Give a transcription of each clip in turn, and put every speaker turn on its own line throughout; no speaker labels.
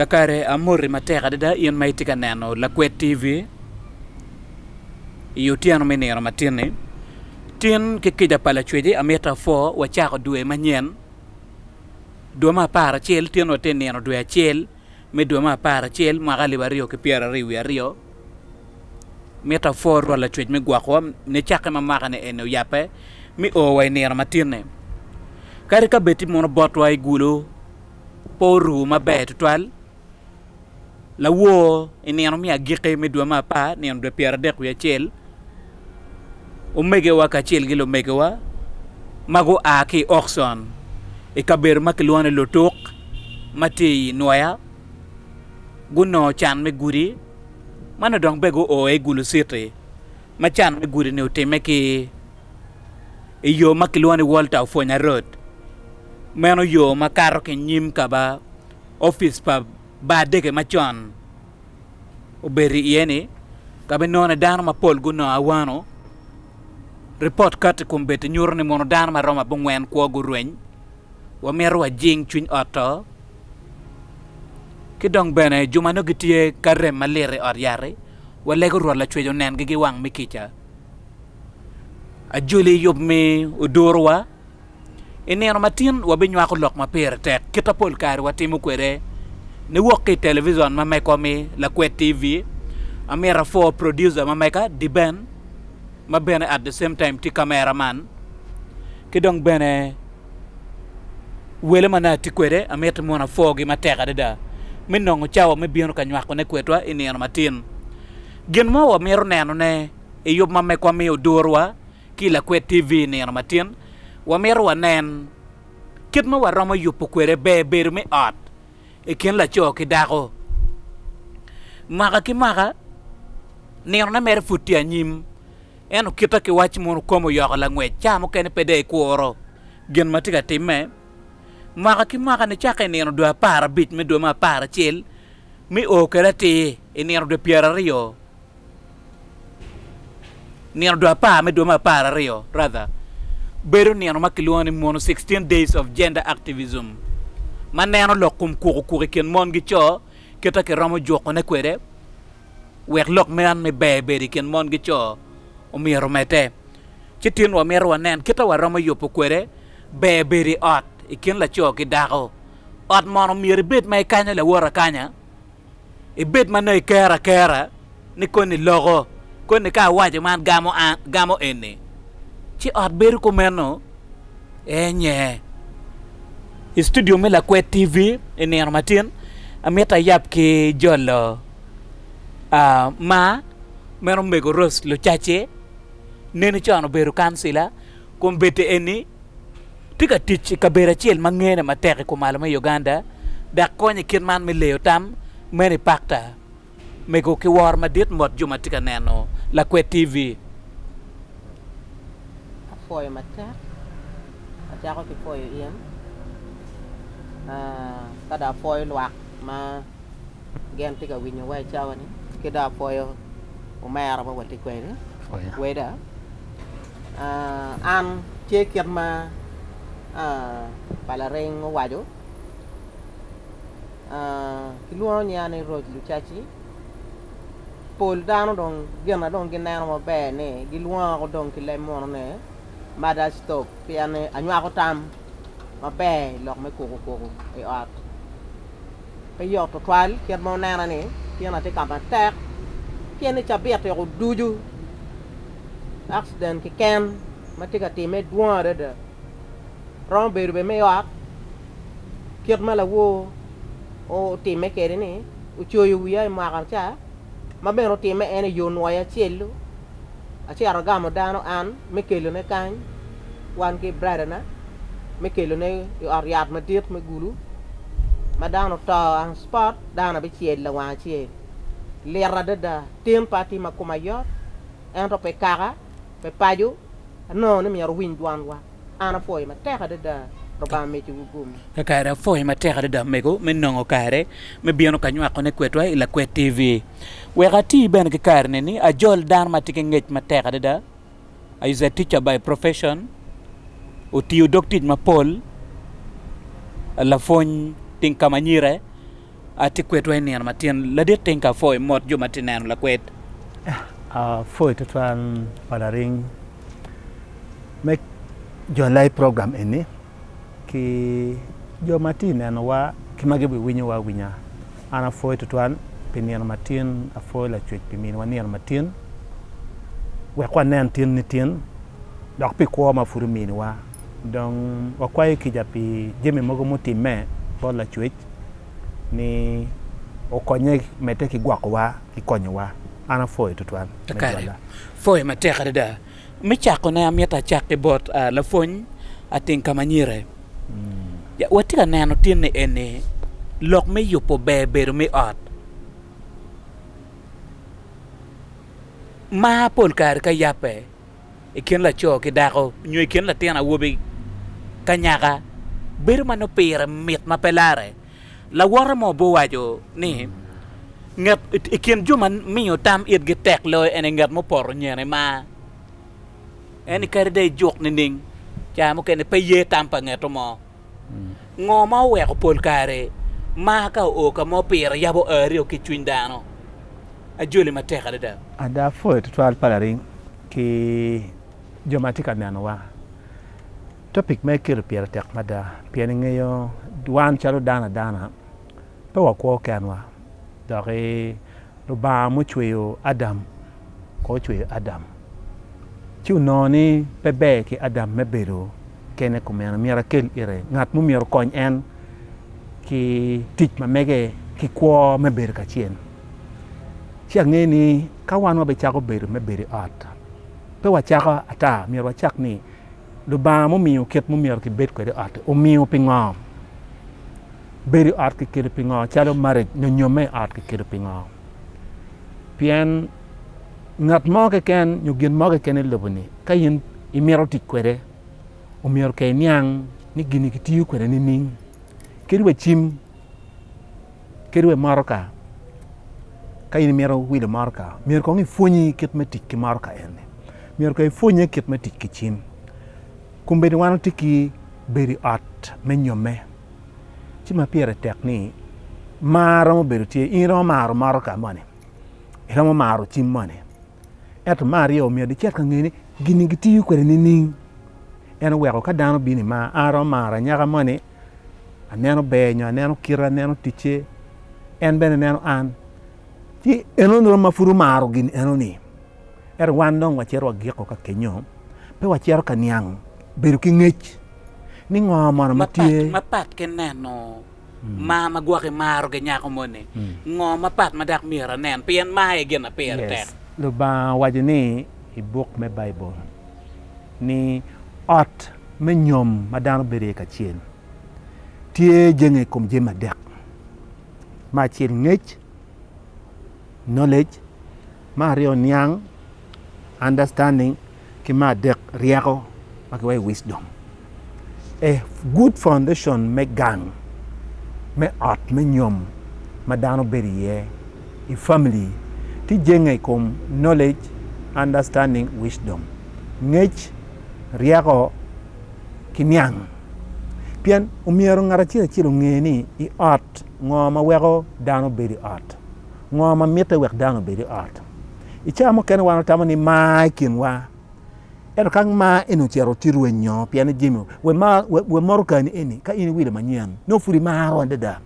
Kakare amoti matek adada in ma itye ka neno Lakwed TV i otyeno me nino matin-ni. Tin ki kica pa Lacweci amito apwo wacako dwe manyen, dwe me apar acel. Tin watye nino dwe acel me dwe me apar acel mwaka alip aryo ki pyeraryo wiye aryo. Mito apwo Rwot Lacwec me gwokowa nicakke ma mwaka-ni eni oyabbe mi owa i nino matin-ni. Kadi ka bed tye mono botwa i gulo, pe oru maber tutwal, lawor i nino me agikki me dwe me apar, nino dwe pyeradek wiye acel, omegiwa kacel ki lumegiwa ma gua ki i Aukson i kabedo ma kilwongo ni Lutuk ma tye i Nwoya gunongo can me gudi ma nongo dong peya guo i Gulu Citi ma can me gudi-ni otimme ki i yo ma kilwongo ni Walter Ofwonya Road. Meno yo ma kato ki nyim ka ba opic pa bar dege macon obedo iye ni ka be none dano mapol gunongo awano. Ripot kato i kom beti nyuto ni mono dano maromo abongwen kwo gurweny. Wamito wajing cwiny ot to. Ki dong bene juma nongo gitye ka rem malit i ot yat-ti, walego Rwot Lacwec onengi gi wang me kica. ajoli yub mi oduruwa. I nino matin wabinywako lok ma pire tek kita pol kare watimo kwede niwok ki i televison ma mekwa mi Lakwed TV. Amyero apwor producer ma meka Diben ma bene at the same time tye kamera man ki dong bene wele ma nongo atye kwede amyero mono apworgi matek adada me nongo cawa me bino ka nywakone kwedwa i nino matin. Gin mo wamito nenone, I yub ma Mekwa miyo duruwa ki i Lakwed TV i nino matin, wamito wanen kit ma waromo yubo kwede ber bedo me ot i kin laco ki dako. Mwaka ki mwaka, ninone mere pud tye anyim, ento kite ki wac mono kome oyoko langwec, ca mukene pe dong ikuro gin ma tye ka timme. Mwaka ki mwaka, nicakke i nino dwe apar abic me dwe me apar acel, me o kwede atir, I nino dwe pyeraryo, nino dwe apar me dwe me apararyo rather, bedo nino ma kilwongo ni Mono 16 Days of Gender Activism ma neno lok kom kuku kuku i kin mon ki co kita kiromo juko ne kwede wek lok man me ber bedo i kin mon ki co omyero omedde. Ci tin wa mito wa nen kita wa romo yubo kwede ber bedo i ot i kin laco ki dako. Ot mono myero ibed ma ikanyo lawot akanya? ibed ma nongo ikero akera ni koni loko, koni ka awaco man gamo an, gamo eni. Ci ot bedo kumeno enye. I studio me Lakwed TV i nino matin, amito ayab ki jolo uh, ma meno Omego Rose Lucacci, neni con obedo kancila, Kombeddi eni tye ka tic i kabedo acel ma ngene matek i kumalo me Uganda dok konyo i kit man me leyo tam meno i pakta mego ki woro madit ngot jo ma tye ka neno Lakwed TV. Apwoyo
matek, acako ki pwoyo in, ka dong apwoyo lwak ma. Gen tye ka winyo wa i cawa ni ki dong apwoyo omera ma watye kwede weda an tye kit ma pa laring owaco kilwongo nyinga ni Rose Lucaci pol dano dong gin ma dong gineno maber ni gilwonga ko dong ki leb muno ni mother stop pien ni anywako tam maber i lok me kuku kuku i ot. Pe yot tutwal kit ma wunena ni tyena tye ka matek pien ni cabit weko ducu akciden keken ma tye ka timme dwong adada. Romo bedo bene me ot kit ma lawor otimme kwede-ni, ocoyo wiya i mwaka ca, ma bene otimme en i yo nwoyo acel-lu. Acito agamo dano an me kelone kany, wan ki bradana, me kelone i ot yat madit me gulu. Ma dano oto on spot, dano abicel lawang acel. Lit adada. Tim pe atima, koma yot, ento pe kaka, pe paco, anongo ni myero awiny dwanwa. An apwoyo matek adada Lubanga mitiwu gum. Kakare apwoyo matek
adada omego me nongo kare me bino ka nywako ne kwedwa i Lakwed TV. Wek ati bene ki kare ni ni ajol dano ma tye ki ngec matek adada. I is a teacher by profession. Otiyo dog tic mapol lapwony tinka ma nyire. Atikwetwa i nino ma tyen ladit teng ka pho i mot jo ma tye neno lakwed. Apwoyo
tutwal pa laring me jo live program eni ki jo ma tye nenowa ki ma gibiwinyowa awinya. An apwoyo tutwal pi nino ma tyen, apwoyo Lacwec pi miniwa nino ma tyen wek wanen tyen nityen dok pi kwo ma pud ominiwa. Dong wakwayo kica pi jami mogo mutimme bot Lacwec. ni okonye medde ki gwokowa ki konyowa. An apwoyo tutwal me jwalla.
Pwoyo matek adada. Me cakone amito acak ki bot lapwony ating ka ma nyire. Watye ka neno tinni eni lok me yubo ber bedo me ot. Mar pol kare ka yabbe. i kin laco ki dako nyo i kin latin awobi ki anyaka bedo ma nongo pire mit ma pe larre. Lawote mo obbe owaco ni, Ngat i kin jo ma miyo tam itgi tek loyo en aye ngat mupoto nyene ma en kadi dong ijuk nining, ca mukene pe ye tam pa ngeto mo. Ngo ma oweko pol kare mar ka oo ka mo pire yabo aryo ki i cwiny dano? Ajoli matek adada. Ada, pwoyo tutwal
pa laring ki jo ma tye ka nenowa. Topic ma iketo pire tek mada pien ingeyo wan calo dano adana, pe wakwo kenwa doki Lubanga mucweyo Adam kong ocweyo Adam ci onongo ni pe ber ki Adam me bedo kene kumeno myero akel ite ngat ma myero okony en ki tic ma mege ki kwo me bedo kacel ci angeyo ni ka wan wabicako bedo me bedo i ot pe wacako ata myero wacak ni Lubanga mumiyo kit ma myero kibed kwede i ot-ti omiyo pingo? Bedo i ot kiketo pingo calo marriage nyo nyomme i ot kiketo pingo? Pien ngat mo keken nyo gin mo keken i lobo ni ka in imito tic kwede omyero ka iniang ni gini kitiyo kwede nining? Kadi wa cim, kadi wa motoka ka in imito wilo motoka myero kong ipwonyi kit me tic ki motoka eni, myero kong ipwonye kit me tic ki cim. Kombeddi wan watye ki bedo i ot me nyomme. ci ma pire tek ni mar romo bedo tye in romo maro motoka moni iromo maro cim moni ento mar aryo omyero dicet ka ngeni gini gitiyo kwede nining en oweko ka dano bini ma aromo maro anyaka moni aneno ber nyo aneno kite aneno ticce en bene neno an ci en onuro ma pud omaro gin enoni Ento wan dong wacito wagiko ka kenyo, pe wacito ka niang bedo ki ngec ni ngo mono ma tye. Mapat ki neno
mar ma gwok imarogi nyako moni, ngo mapat ma dok myero anen pien mar aye gin ma pire tek? Lubanga owaco
ni i buk me Baibul ni ot me nyom ma dano bedo iye kacel tye jenge i kom jami adek, me acel ngec, knowledge, me aryo niang, understanding, ki me adek ryeko ma kiwaco ni wisdom. A good foundation me gang me ot me nyom ma dano bedo iye i family tye jenge i kom knowledge, understanding, wisdom, ngec, ryeko ki niang. Pien omyero ngat acel acel onge ni i ot Ngo ma weko dano bedo i ot? Ngo ma mitte wek dano obed i ot? I cawa mukene wan watamo ni mar i kinwa. Ento ka mar eni ocito tye rweny nyo pien ni jami we motokani eni ka in iwilo manyen nongo pud imaro adada.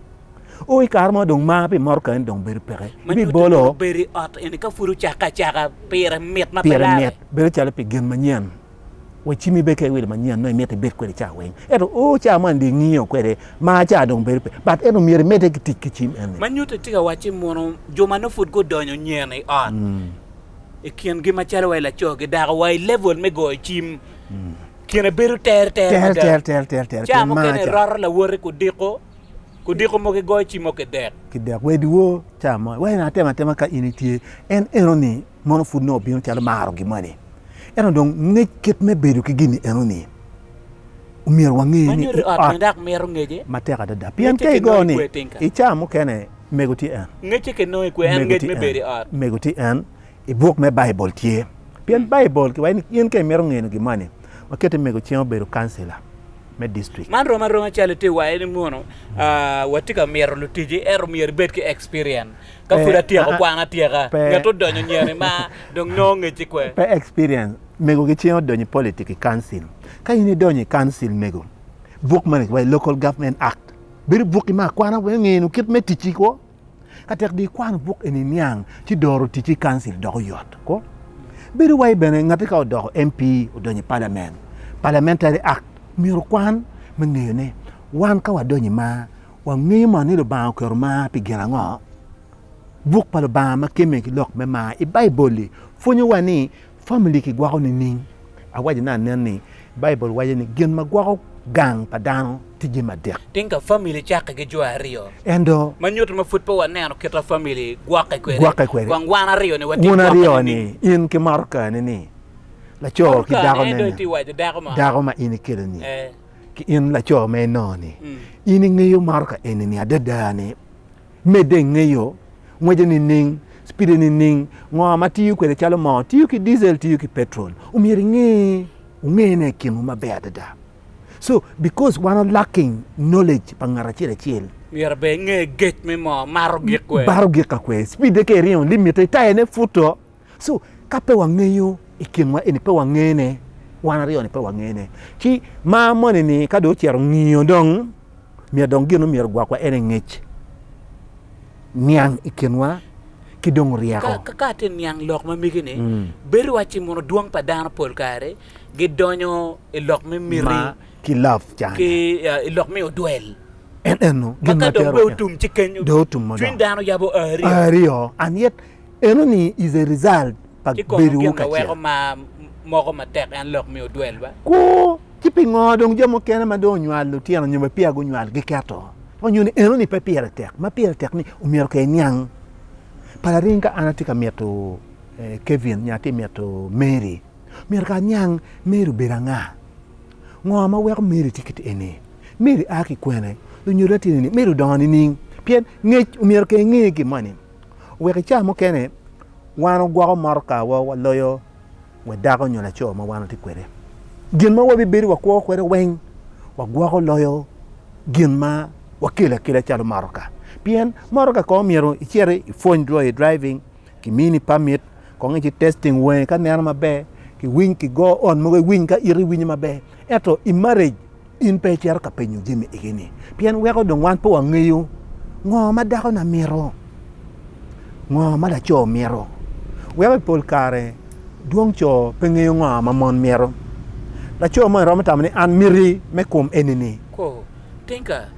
O i kare mo dong mar pi motokani dong bedo peke. Ma nyuto ni obedo i ot eni
ka pud ocakke acaka pire mit ma pe lare. Bedo calo pi gin
manyen. Wa cim ibed ki awil manyen ma imito ibed kwede ca weng. Ento o ca man dye ngiyo kwede ma ca dong bedo pe but ento myero imedde ki tic ki cim eni. Ma nyuto itye ka wacci
muno jo ma nongo pud gudonyo nyen i ot i kingi macalo wa i laco ki dako wa i level me goyo cim kine bedo tere tere mada. Ca mukene iroto lawoti kudiko kudiko mogo igoyo cim mogo ki dek. Ki dek. Wadiwo
ca mo wai en aye atemo atema ka in itye en enoni. Mono pud nongo obino calo maro gin moni? Ento dong ngec kit me bedo ki gin ni eno ni, omyero wange ni i ot
matek adada pien ka
igo ni i caa mukene mego tye en,
mego tye en
i buk me Baibul tye pien Baibul ki waci ni in ka imito ngeno gin moni wa keti mego cing obedo kancila me district. Man rom aroma calo itye
waye ni mono wa tye ka mito lutici ento myero ibed ki experience. Ka Pe, pud atyeko ah, ah. kwan atyeka, Pe. nget odonyo nyeni ma dong nongo ngecci kwe. Pe experience.
Mego gicing odonyo i politic i council. Ka in idonyo i council mego, buk mane kiwaco Local Government Act. Bedo bukki me akwana wek ngenu kit me ticci kwo. Ka tek di ikwano buk eni niang ci doro ticci i council doko yot kwo. Bedo wai bene ngati ka odoko MP odonyo i parliament, Parliamentary Act myero okwan me ngeyo ne wan ka wadonyo i ma Wangeyo moni ni Lubanga oketo mar pi gin ango? Buk pa Lubanga ma kemme ki lok me mar i Baibol-li pwonyowa ni famili kigwoko nining? Awaco ni anen ni Baibol waco ni gin ma gwoko gang pa dano tye jami adek. Tika ka famili cakke
ki jo aryo? Ento, ma nyuto ma
pud pe
waneno kit ma famili gwokke kwede. Gwokke kwede. Kong wan aryo ni watye gwokke nining? Wun aryo ni, in
ki motoka-ni ni, laco ki dako-ne ni, dako ma in ikelo-ni. ki in laco ma inongo-ni, in ingeyo maro ka eni-ni adada-ni, medde ingeyo ngwece nining, cipide nining, ngo ma tiyo kwede calo moo, tiyo ki diesel, tiyo ki petrol, omyero inge, wungene i kinwu maber adada. So, because wan o lacking knowledge pa ngat acel acel, Myero bene inge
gec me moo, maro gik kwer. baro gik ka kwer,
cipide ka iringo limite, tayane puto, So ka pe wangeyo i kinwa eni pe wangene, wan aryo ni pe wangene. Ci ma moni ni ka dong ocito ngiyo dong myero dong gin myero gwakwa ene ngec niang i kinwa ki dong ryeko. Ka ka atye niang lok
ma mege ni mm. bedo wa ci mono dwong pa dano pol kare gi donyo i lok me miti ma ki love cana
ki uh, i lok me
odwel en eno gin
ma kadong be otum
ci kenyo cwiny dano
yabo ario
ario and
yet Enoni is a result pa Ci kono bedowu gin ma weko kacel. mar moko
matek en lok mi odwelwa? Kwo, ci pingo
dong jo mukene ma dong onywalo lutino nyo bene peya gunywal giketo ma nyo ni enoni pe pire tek? Ma pire tek ni omyero ka iniang pa laring ka an atye ka mito Kevin nyo atye mito Mary, myero ka aniang Mary obedo anga? Ngo ma weko Mary tye kit eni? Mary a ki kwene? Lunyodo na tye nining? Mary odongo nining? Pien ngec omyero ka inge gin moni. Wek i cawa mukene wan ogwoko motokawa waloyo wa dako nyo laco ma wan watye kwede. Gin ma wabibedo wakwo kwede weng wagwoko loyo gin ma wakelo akela calo motoka. Pien motoka kong myero iciti ipwony dwoyo i driving, kimini pamit, kong ici testing wangi ka neno maber, kiwiny kigo on mogo iwiny ka iti winyo maber. Ento i marriage In pe icito ka penyo jami egi-ni, pien weko dong wan pe wangeyo ngo ma dakona mito, ngo ma laco mito. Weko i pol kare dwong co pe ngeyo ngo ma mon mito. Laco moni romo tamo ni, An miti me kom eni-ni. Kwo, Tinka,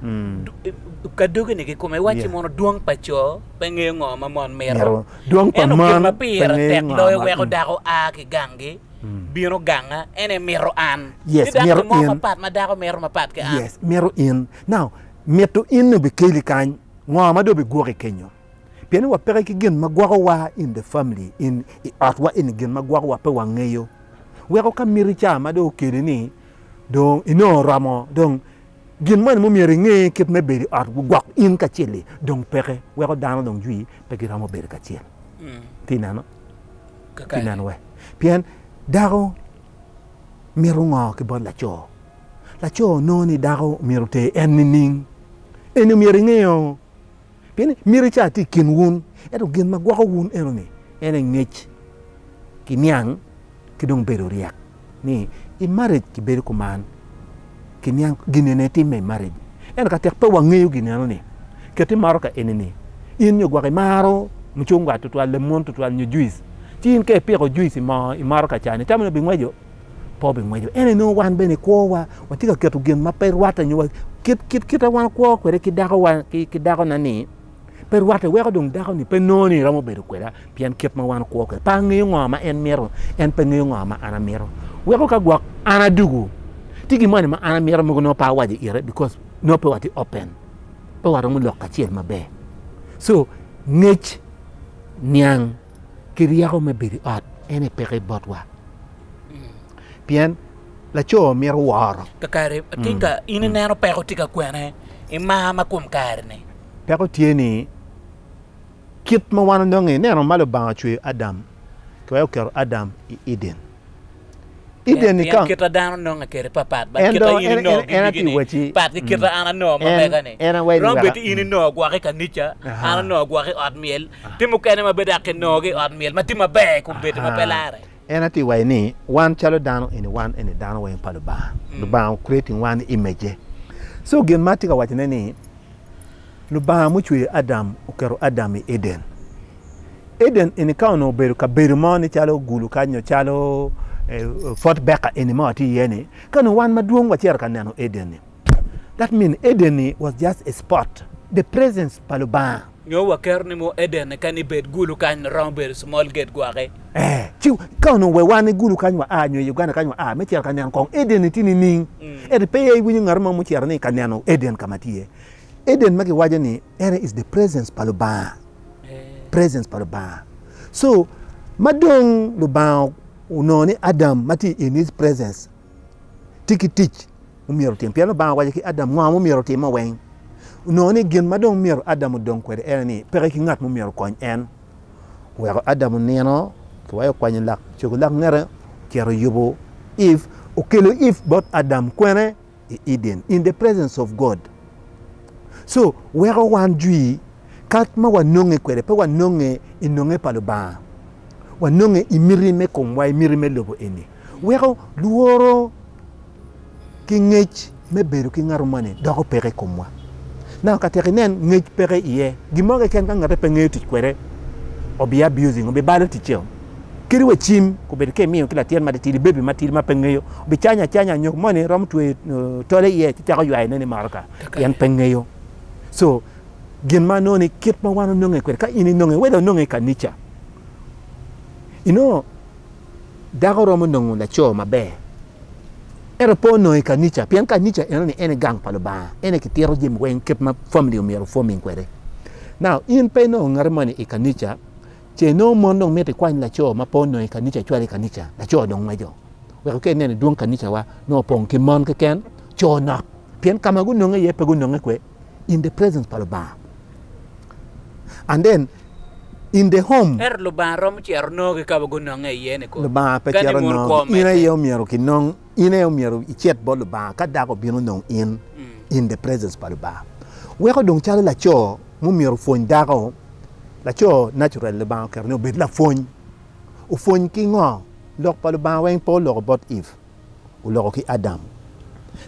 ka dogini ki kome iwacci mono dwong pa co pe ngeyo ngo ma mon mito. Ento gin ma
pire tek loyo
weko dako a ki ganggi. bino ganga en e mito an ni dako ni mo
mapat ma dako mito mapat
ki an. Mito in.
Now, mito in ni obikeli kany, ngo ma dong obigwoki kenyo? Pien ni wa peke ki gin ma gwoko wa in the family, in i ot wa eni gin ma gwoko wa pe wangeyo. Weko ka miti ca ma dong okeli ni dong inongo oromo dong Gin moni mumyero inge, kit me bedo i ot gwok in kacel-li dong peke, weko dano dong jwi pe giromo bedo kacel ki neno ki neno we. Pien dako mito ngo ki bot laco? Laco nongo ni dako myero oter en nining? Eni myero inge-o. Pien ni myero ica tye i kin wun, ento gin ma gwoko wun enoni, en aye ngec ki niang ki dong bedo ryek. Ni i marriage kibedo kuman, kiniang gin eni aye timme i marriage. Ento ka tek pe wangeyo gin enoni, ket imaro ka enini, in nyo gwok imaro mucungwa tutwal, lemon tutwal nyo juice, ci in ka ipiko juice i moo imaro ka cani, itamone bingweco? pe obingweco. Ento inongo wan bene kwowa watye ka keto gin ma pe rwatte nyo kit kit kita wan wakwo kwede ki dako ki dakona ni pe rwatte weko dong dako ni pe nongo ni romo bedo kweda pien kit ma wan kwo kwede pe angeyo ngo ma en mito en pe ngeyo ngo ma an amito weko ka gwok an adugu ti gi moni ma an amito mogo nongo pe awaco ire because nongo pe wati open pe waromo lok kacel maber so ngec niang ki ryeko me bedo i ot en aye peke botwa pien laco mito woro. Kakare ating ka
in ineno peko tye ka kwene i mar ma kom kare-ni? Peko tye ni
kit ma wan onongo ineno ma Lubanga ocweyo Adam ki wek oketo Adam i Eden. Eden i kama. Kita dano nongo akeri
papat bat kita in inongo gigi ni pat ki
kita an anongo
ma mega ni. Rom bed in
inongo gwoko
i kanica, an anongo gwoko i ot myel, ti mukene ma bed aki nongo gi i ot myel ma ti maber kun bedi ma pe lare. En ati wayi ni
wan calo dano eni wan eni dano weng pa Lubanga. Lubanga o creating wan i image-je. So gin ma ati ka wacone ni Lubanga mucweyo Adam oketo Adam i Eden. Eden eni ka onongo obedo kabedo mo ni calo gulu kany nyo calo Fort Baker eni ma watye iye ni, ka onongo wan madwong wacito ka neno Eden ni, that mean Eden ni was just a spot, the presence pa Lubanga. Nyo waketo ni
mono Eden ni kani bed gulu kany romo bedo small gate gwoki. Ee, ci ka
onongo wa wan i gulu kany wa a nyo i Uganda kany wa a me cito ka neno kong Eden ni tye nining? Ento pe iwinyo ngat mo mucito ni ka neno Eden ka ma tye iye. Eden ma giwaco ni, ene is the presence pa Lubanga, presence pa Lubanga. So ma dong Lubanga onongo ni Adam ma tye in his presence tye ki tic omyero otim. Pien Lubanga owaco ki Adam ngo ma omyero otimo weng. Onongo ni gin ma dong myero Adam odong kwede ene ni peke ki ngat ma omyero okony en. Oweko Adam onino ki wa okwanyo lak cogo lak ngete ocito oyubo Eve, okelo Eve bot Adam kwene. i Eden in the presence of God so weko wan jwi kat ma wanonge kwede pe wanonge i nonge pa Lubanga, wanonge i miti me komwa, i miti me lobo eni. Weko lworo ki ngec me bedo ki ngat moni doko peke i komwa. Now ka tek inen ngec peke iye, gin mo keken ka ngate pe ngeyo tic kwede obi abusing, obi balo ticeo. Kadi wa cim obedo ka imiyo ki latin matitidi, bebi matidi ma pe ngeyo, obicanyo acanya nyok moni romo tweyo tole iye ci cako ywayone ni motoka pien pe ngeyo. So gin ma nongo ni kit ma wan ononge kwede ka in inonge wede ononge i kanica, inongo dako romo nongo laco maber ento pe onongo i kanica pien kanica enoni en aye gang pa Lubanga, en aye kitito jami weng kit ma famili omyero o forming kwede. Now in pe inongo ngati moni i kanica, Ce nongo mon dong miti kwany laco ma pe onongo i kanica cwalo i kanica. Laco dong ngweco weko ka ineno i dwong kanicawa nongo opong ki mon keken, co nok, pien ka ma gunonge iye pe gunonge kwe in the presence pa Lubanga and then in the home. Ento Lubanga romo cito
nongo ki ka ma gunonge iye-ni kong. Lubanga pe cito nongo,
in aye omyero kinong. In aye omyero icit bot Lubanga ka dako obino nong in in the presence pa Lubanga. Weko dong calo laco ma omyero opwony dako, laco natural Lubanga oketo ni obed lapwony. Opwony ki ngo? Lok pa Lubanga weng pe oloko bot Eve, oloko ki Adam.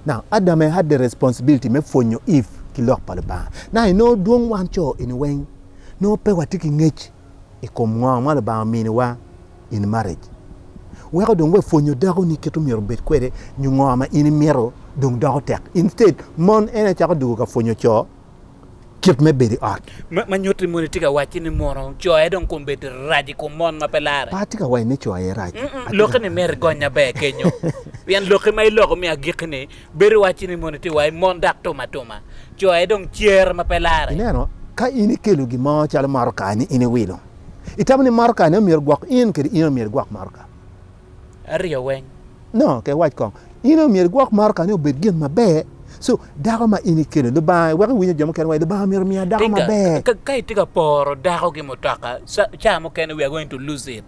Now Adam had the responsibility me pwonyo Eve ki lok pa Lubanga. Now inongo dwong wan co eni weng nongo pe watye ki ngec i kom ngo ma Lubanga ominiwa. in marriage weko dong we pwonyo dako ni kit omyero obed kwede nyo ngo ma in imito dong doko tek instead mon en aye cako dugo ka pwonyo co kit me bedo i ot. Ma nyutti moni tye
ka wacci ni mono co aye dong kom bedo rac i kom mon ma pe lare. Pe atye ka wacci ni co aye
rac. Loki ni myero igonya
ber kenyo pien loki ma iloko me agikki ni bedo iwacci ni moni tye wai mon dok tum atuma co aye dong cer ma pe lare. Ineno ka in
ikelo gin mo calo motoka ni in iwilo. Itamo ni maro kare ne omyero gwok in kede in omyero igwok maro ka? Aryo
weng. No, ke iwac
kong. In omyero igwok maro ka ni obed gin maber. So, dako ma in ikelo, Lubanga, weko iwinyo jo mukene waci, Lubanga myero omiya dako Tinga, maber. ka, ka itye ka poro
dako ki mutoka, sa, caa mukene we are going to lose it.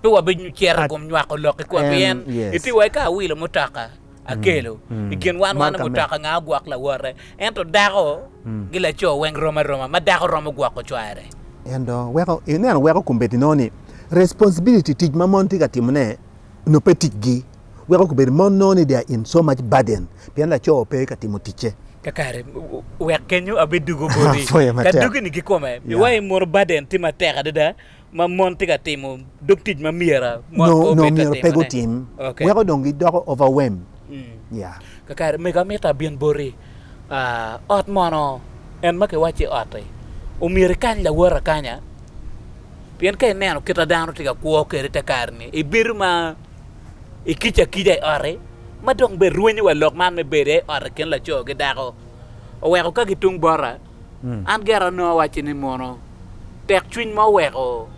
Pe wabi cito i At, kom nywako lok-ki kua, and, pien itye yes. waci ka awilo mutoka, akelo i kin wan wan mutoka nga ogwok lawote ento dako gi laco weng rom aroma ma dako romo gwoko cware and uh, weko
ineno weko kombeddi no ni responsibility tic ma mon tye ka timo ne no pe ticgi weko kombeddi mon no ni they are in so much burden pien laco pe ka timo ticce kakare
wek kenyo abe dugo bodi ka dugi ni kikome mi wai mono burden tye matek adada ma mon tye ka timo dog tic ma myero mon pe obed ka timone. Nongo myero pe
gutim. Okay. Weko dong gidoko overwhelm. Mm. Yeah. Kakare mego
amito abin boti. Uh, ot mono en ma kiwacci ot-ti, omyero ikany lawot akanya. Pien ka ineno kita dano tye ka kwo kede te kare-ni, ibido ma ikic akica i ot-ti, ma dong be rwenyo wa lok man me bedo i ot i kin laco ki dako. Oweko ka gitung bota, An gera onongo awacci ni mono tekcwiny ma oweko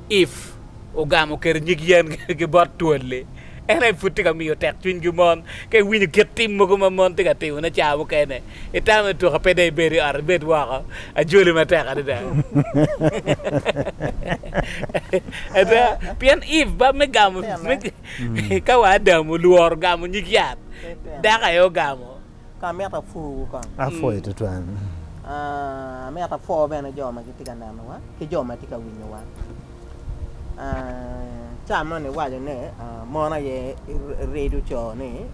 Eve ogamo kede nyig yen ki bot twol-li en aye pud tye ka miyo tekcwinygi mon? Ka iwinyo kit tim mogo ma mon tye ka timone cawa mukene, itamo ni tuk-ka pe dong ibed i ot, ibed woko? Ajoli matek adada! Ada, pien Eve ba me gamo, ka wa Adam olworo gamo nyig yat, dako aye ogamo. Ka amito apwoo
wu kong? Apwoyi tutwal. Amito apwo bene jo ma gitye ka nenowa ki jo ma tye ka winyowa. Ca moni waco ni mon aye rido co ni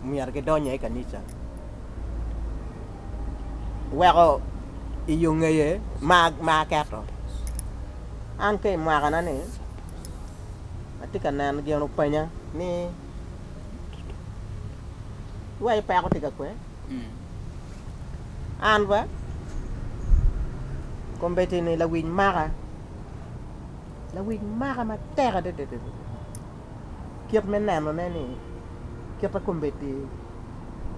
myero gidony aye i kanica weko i yo ngeye ma aketo. An ka i mwakana ni atye ka neno gin openya ni Iwaco peko tye ka kwe? An ba kombeddi ni lawic maka, lawic maka matek adada adada. Kit me nenone ni kit ma kombeddi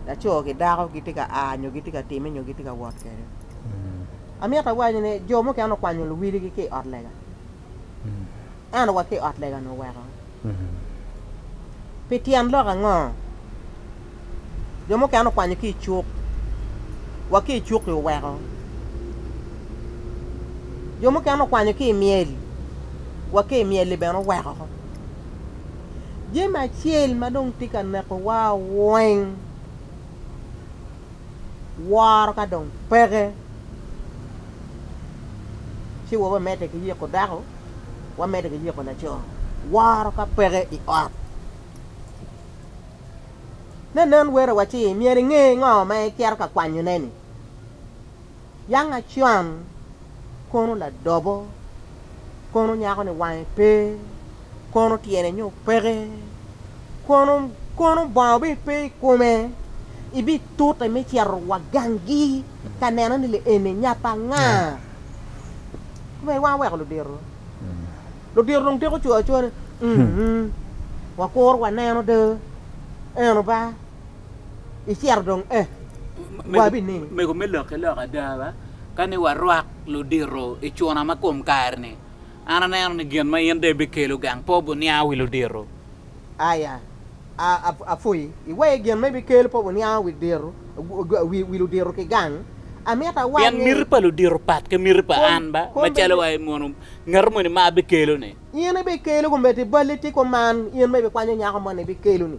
laco ki dako gitye ka a nyo gitye ka time nyo gitye ka wot kwede. Amito awaci ni jo mukene okwanyo luwiligi ki i ot lega. An wa ki ot lega-nu oweko. Pi tyen lok ango? Jo mukene okwanyo ki i cuk. Wa ki i cuk-ki oweko. Jo mukene okwanyo ki i myel. Wa ki i myel-li bene oweko. Jami acel ma dong tye ka nekowa weng. woro ka dong peke ci wa wamedde ki yiko dako, wamedde ki yiko laco. Woro ka peke i ot, ne nen werowa ci myero inge ngo ma icito ka kwanyone-ni. Yang Acuan kono ladobo, kono nyako ni wange pe, kono tyene nyo peke, kono kono bongo bene pe i kome, ibitute me cito wa gangi ka neno ni li eni nya pa nga? Komeri wang oweko ludito, ludito dong tiko coo acoa ni, mm, wakuru waneno de, eno ba. icito dong e wabi ni. Mego me lok ki lok
ada ba ka ni warwak ludito i cuna ma kom kare ni, an aneno ni gin ma in de ibikelo gang po buniango wi ludito. Aya,
a, a, apwoyi. Iweye gin ma ibikelo po buniango wi dito, wi, wi ludito ki gang. Amito awac Pien ni. miti pa ludito
pat ki miti pa Kom, an ba, kom macalo bedi. wa i mono ngat moni ma abikelo ni. In ibikelo
komedi balli ti kuman, in ma ibikwanyo nyako moni ibikelo ni.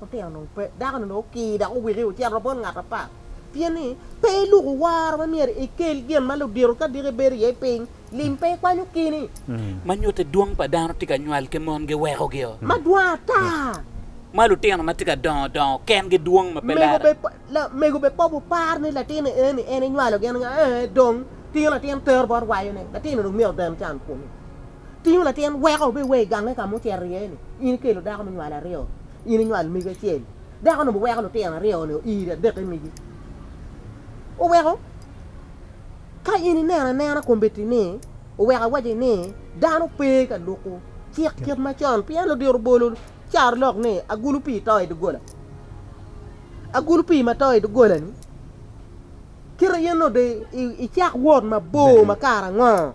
Lutino onongo pe, dako-ni onongo okir dok owiki ocito bot ngat apat. Pien ni, pe iluku woro ma myero ikel gin ma ludito ka diki bedo iye i piny, lim pe ikwanyo kini. Ma nyutte dwong
pa dano tye ka nywal ki mon giwekogio. Ma dwong ata.
Ma lutino
ma tye ka dongo dongo kengi dwong ma pe lare. Mego be
poko par ni latin eni en enywalo gin nga, ee dong tingo latin tero bot wayone, latin-ni dong myero oden can kunu. Tingo latin weko obed wa i gange ka ma ocito iye-ni. In ikelo dako munywalo aryo, in inywalo megi acel. Dako-nu biweko lutino aryo-ni oir adek i megi. Oweko ka in ineno anena kombeddi-ni, oweko awaci ni dano pe ka luko cik kit macon pien ludito obolo carolok ni agulu pii to i doggola. Agulu pii ma to i doggola-ni kite in onongo dong icak wot mabor ma kare ango?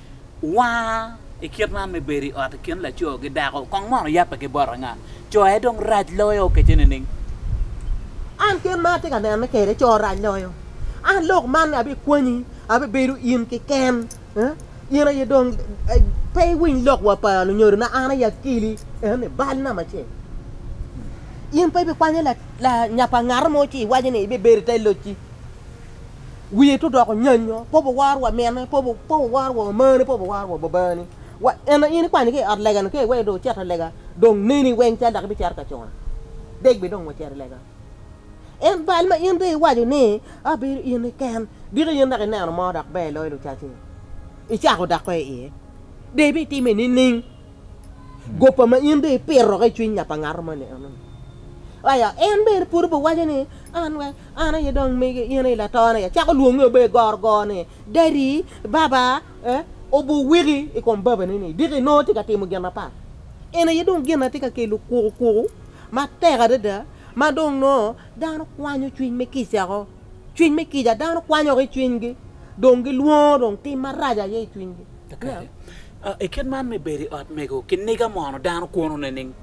Wanga i kit man me bedo i ot i kin laco ki dako kong mono oyape ki bot anga? Co aye dong rac loyo okece nining?
An kit ma atye ka nene kwede, co rac loyo. An lok man abikwanyi, abibedo in keken. In aye dong pe iwiny lok wa pa lunyodona, an aye akeli en i bal namba acel. In pe ibikwanyo lanyap pa ngat mo ci iwaco ni ibibedo i te locci. wiye tye odoko nyanyo, pe wawar wa mine, pe wawar wa omane, pe wawar wa babani. Wa en in ikwanyo ki i ot lega ni ka iweyo dong icito lega dong neni weng cal dok ibicito ka cona. Dek bi dong wacito lega. En bal ma in dong iwaco ni abedo in iken diki in dok ineno mo dok ber loyo lucaci ni icako dako iye. Dong ibitime nining? Gopa ma in dong ipito ki i cwiny ngat angat mo ni eno. Aya, en bene pud obiwaco ni, An we, an aye dong mege, in aye latona ya. Cako lwonge obe i goro goro ni, Daddy, Baba, eh, obuwiki i kom babane ni, diki nongo tye ka timo gin mapat. Eno aye dong gin na tye ka kelo kuku kuku matek adada, ma dong nongo dano kwanyo cwiny me kica ko. Cwiny me kica, dano kwanyo ki i cwinygi, dong gilwongo dong tim marac aye i cwinygi. I
kit man me bedo i ot mego kiniga mono dano kwono nining?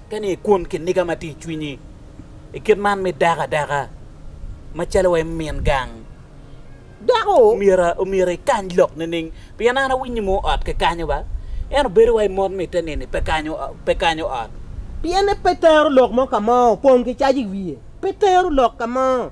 Ka ni ekwon kiniga ma tye i cwinyi i kit man me dako adaka macalo wa i min gang, dako
omyero
ekany lok nining? Pien an awinyo ni mono ot kikanyo ba, ento bedo wa i mot mitte nini pe kanyo ot. Pien en pe
tero lok mo ka mo, opong ki caji i wiye, pe tero lok ka mo.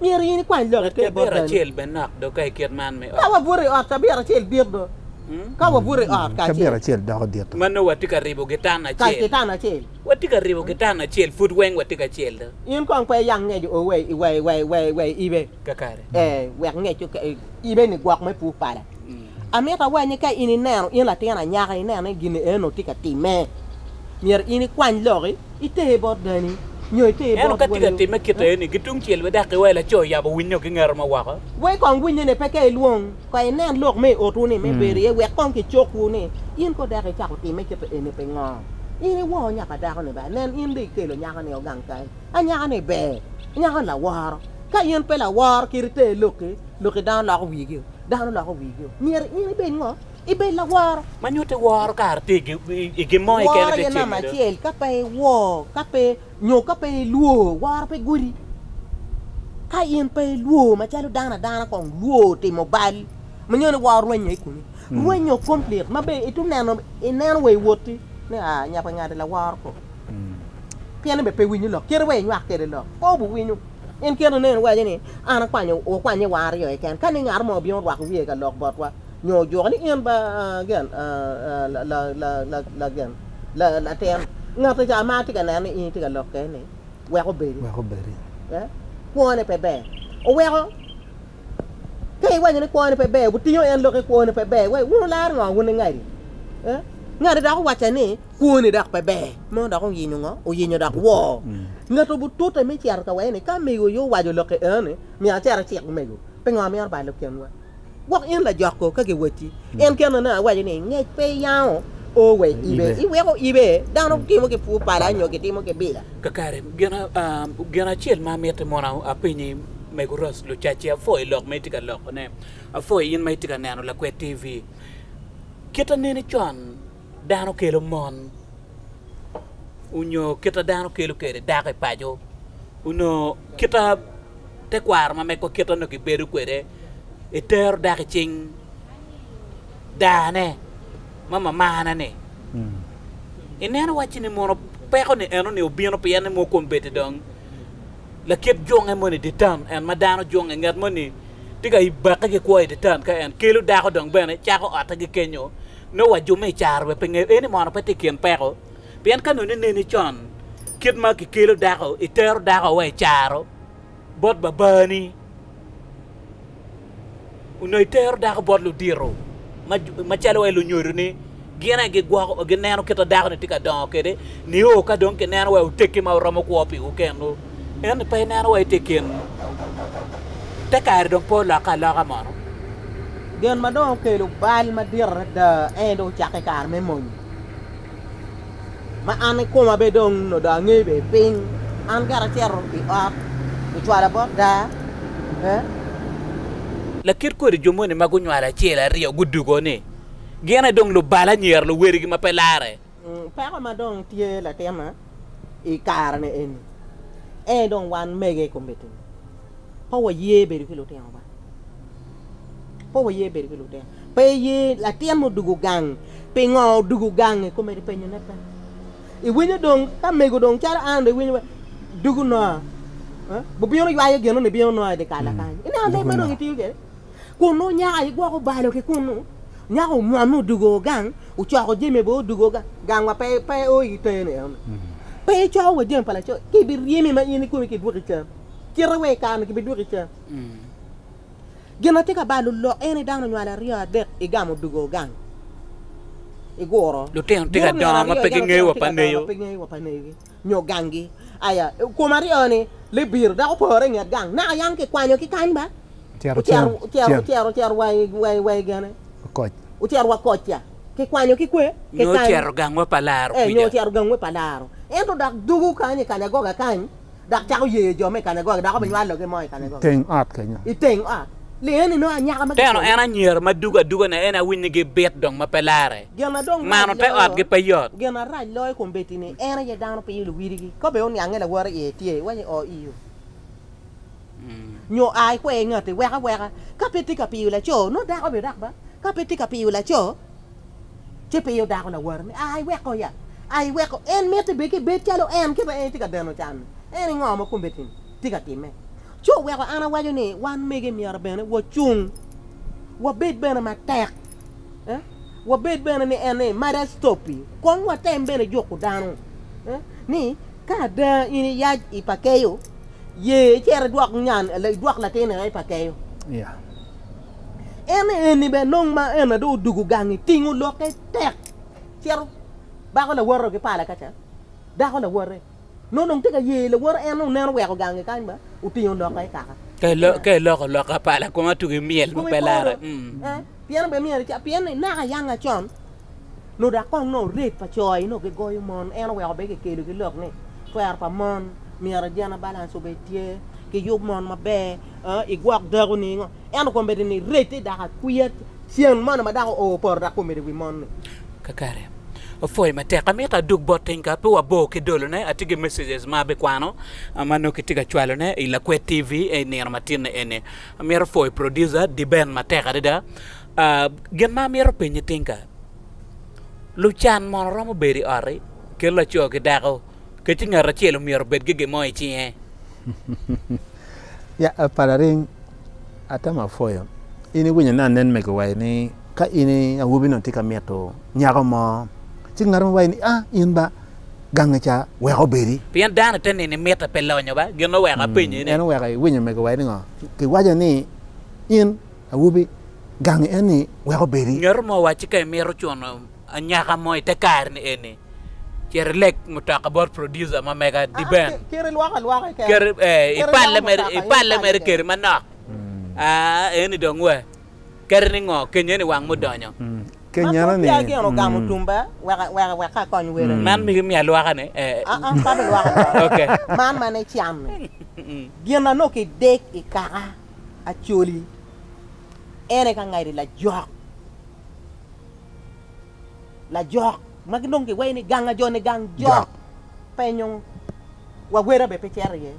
Myero in ikwany lok ipe
bot dano.
Ka wabuto i ot, cabit acel bito. Ka wabuto i ot kacel. Ma
nongo watye ka ribo
gitan acel.
Watye ka ribo gitan
acel pud weng watye kacel do. In kong pe iyang ngec
o wa i ibe. Ee, wek
ngec
ibe ni gwok me pur pala. Amito wa ni ka in ineno in latin anyaka ineno ni gin eno tye ka timme, myero in ikwany lok iter bot dani nyo iter bot Ento ka tye ka wayo. timme kit aye-ni,
gitungcel widakki wa i laco i yabo winnye-o ki ngero ma woko. Wa i kong winnye ni
peke ilwong ka inen lok me i otwu ni me bedo iye wek kong kicokwu ni in ko dako icako timme kit aye-ni pingo? In iwor nyaka dako-ni ba? Nen in dong ikelo nyako-ni o gang kany. Anyaka-ni ber, anyaka-ni laworo. Ka in pe laworo kit iter lokki, lokki dano loko wigio, dano loko wigio. Myero in ibed ngo? Ibed laworo. Ma nyutti woro kare
tye i gin mo keken Woro aye namba acel, ka
pe iwor, ka pe, nyo ka pe ilwor, woro pe godi. Ka in pe ilwor macalo dano adana kong lwor timo bal, ma nyo ni woro rwenyo i komi. Rwenyo complete, ma be ito neno, ineno wa i wotti ni aa, nyapangadi laworo ko. Pien en bene pe winyo lok, cite wa inywak kwede lok, pe obiwinyo. In kite nene iwaco ni, 'An akwanyo, wakwanye wa aryo keken. Ka ni ngat mo obino orwako wiye ka lok botwa, nyo ojuko ni in ba latin ngati ca ma atye ka neno ni in itye ka lok kwede-ni, wek obedi, kwone pe ber. Oweko Ka iwaco ni kwone pe ber, wutingo en lok i kwone pe ber, wai, wun wularo ngo wun ingadi? Eh? Ngati dok owacca ni kwone dok pe ber, mono dok oyinyo ngo? Oyinyo dok woo. Ngat obutute me cito ka wee ni ka mego yo owaco lok i en ni, myero acit acik mego, pingo myero balo kinwa? Gwok in lajoko ka giwacci, en kene ne awaco ni ngec pe iyango o we ibe, iweko ibe, dano timo ki pur pala nyo gitimo ki bila. Kakare,
gin acel ma amiti mono apenyi. Mego Ross Lucacci, apwoyi lok ma itye ka lokone. Apwoyi in ma itye ka neno Lakwed TV. Kit aneni con dano kelo mon onyo kita dano kelo kwede dako i paco onyo kita tekwaro ma megwa kit onongo gibedo kwede etero dako i cing dane ma mamane ni ineno wacci ni mono peko ni enoni obino pien ni mokom bedi dong lakit junge moni i dye tam, en ma dano junge, ngat moni tye ka bakke ki kwo i dye tam ka en kelo dako dong bene cako otte ki kenyo nongo wa jume i caro bene pe ngeyo eni mono pe tye i kin peko pien ka nongo ineni con kit ma ki kelo dako itero dako wa i caro bot babani. onongo itero dako bot ludito macalo wa lunyodo ni gin aye gigwoko gineno kit dako ni tye ka dongo kede nio ka dong kineno wa oteki ma oromo kwo piwu kenwu ento pe ineno wa itye kin te kare dong pe olokke aloka mono gin ma
dong okelo bal madit adada en dong ocakke kare me mony ma an ikoma bene dong nongo dong angeyo bene piny, an kara acito i ot ocwala bot daa eh.
Lakit kodi jo moni ma gunywalo acel aryo gudugo ni gin aye dong lubalo anyira luwerigi ma pe larre. Peko ma dong
tye latinna i kare-ni eni, ento dong wan mege i komitti-ni. pe waye bedo ki lutino ba, pe waye bedo ki lutino, pe iye latin ma odugo gang, pingo odugo gang-nge kong omyero ipenyone pe, iwinyo dong ka mego dong calo an dong iwinyo dugo noa bubino ywayo gin nongo ibino noa idikal-la mm. kany, ineno leb ma dong itiyo kwede, kun nongo nyaka igwoko balo ki kunu, nyaka omwam ni odugo gang, ocoko jami bo odugo gang, gang wa pe pe o i teni enoni, mm. pe icoyo wa jami pa laco, kibiryemi ma in ikome kidwoki cam. kite wek
i kare-ni gibidwoki cen. Gin ma tye ka balo lok ene dano onywalo aryo adek i gamo odugo gang i guro. Lutino tye ka dongo ma pe gingeyo wa pa neyo. Nyo
gangi. Aya, kom aryo-ni libiro dok opore i nget gang. Naka yam kikwanyo ki kany ba. Ocero cero wa i gene. Ocero wa kocca. Kikwanyo ki kwe. Nyo ocero gangwa
pa laro kwija. Nyo ocero gangwa pa
laro. Ento dok dugu kany i kanyagoga kany Dok cako yeyo jo me kanegogi, dok obinywa loge mo i
kanegogi. Iteng ot kenyo.
Iteng ot. Li eni nongo anyaka ma kicweyo. Teno en anyira ma
dugo aduga na en awiny ni gi bit dong ma pe lare. Gin na dong rac loyo. Mano te ot gi pe yot. Gin na rac loyo kom
beti ni en aye dano pinyo luwidi gi ka be oniange lawote iye tye iwaco ni oo iyoo nyo aa ikwe ingati wek aweka ka pe tye ka piyo laco nongo dako obidak ba ka pe tye ka piyo laco. ci pe yo dako lawara ni, Aa iweko ya, aa iweko. En mitte bene ki ibed calo en kit ma en tye ka deno can-ni. En ni ngo ma kome tini? Tye ka timme. Ci oweko an awaco ni wan mege myero bene wacung, wabed bene matek, wabed bene ni en ni mada stopi, kong watem bene juko dano ni ka ada in iyac i pa keyo, ye icit idwok nyan, idwok latin i pa keyo. En eni bene nongo ma en aye dong odugo gangi, tingo lokke tek cito bako lawote ki pala kaca, dako lawote nongo dong tye ka ye lawote en oneno oweko gangi kany ma otingo lokke i kaka. Ka iloko
loka pala kong atugi myel ma pe larre.
Pien ni naka yanga con. Nyo dok kong nongo rate pa co aye nongo gigoyo mon, en oweko bene kikelo ki lok ni twero pa mon myero gender balance obed tye, kiyub mon maber, aa igwok dako ni ngo. Ento kong bedi ni rate ni dako akwiya cen moni ma dako oo poto dok omedo i wi mon ni. Kakare
opwoyo matek. Amito adug bot Tinka pe wabor ki dolo ne, atye ki messages ma abikwano ma nongo kitye ka cwalo ne i Lakwed TV ei nino matinne eni. Amito pwoyo producer Diben matek adada. Gin ma amito penyi tinka, lucan mono romo bedo i ot-ti kit laco ki dako kadi ci ngat acel omyero obed ki gin mo i cinge?
Pa laring, atamo apwoyo. In iwinyo ni anen mego wa ni ka in awobi onongo itye ka mito nyako mo ci ngat mo waci ni in ba gangi ca wek obedi. Pien dano te nini
mitte pe lonyo ba? Gin ma oweko apenyi eni. En oweko iwinyo mego wa
ni ngo? Kiwaco ni in. awobi, gangi enni wek obedi. Nyoto mo wacci ka imito
cuno anyaka mo ite kare-ni eni, cit ileg mutoka bot producer ma mega Dibben, ipalle mere keri manok. Aa, eni dong we. Keri ni ngo? Kenya ni wang mudonyo. Kenya ni.
Man migi miya lwaka ni. Okay. Acholi, ere ka ngati lajok, lajok ma gilwongo ki wayi ni gang ajone gang jok penyo wawera bene pe cito iye,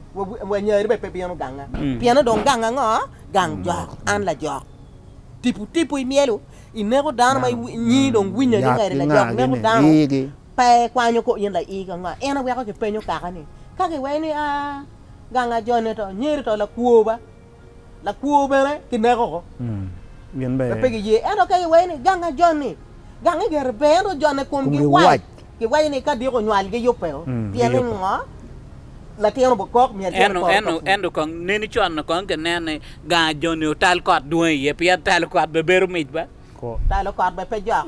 wanyari bene pe bino ganga pien dong gang ango? Gang jok. An lajok tipo tipo imyelo ineko dano ma inyi dong winyo ni ngati lajok neko dano pe ikwanyo kor in laii ka nga? En aweko kipenyo kaka ni ka kiwaco ni aa gang ajone to, anyeri to, lakwo ba, lakwo bene kineko oko. Gin pe
pe giye. Ento ka giwaco
ni, gang ajoni, gang igero pe, ento ojone komgi wac, giwaco ni, ka diko onywal giyubbe o, pien ni ngo? Latin obokok myero cit eporo ka pur. Ento kong
neni con-nu kong kineno ni gang ajoni otal kot dwong iye, pien talo kot be bedo mic ba. Talo kot
bene pe
jok.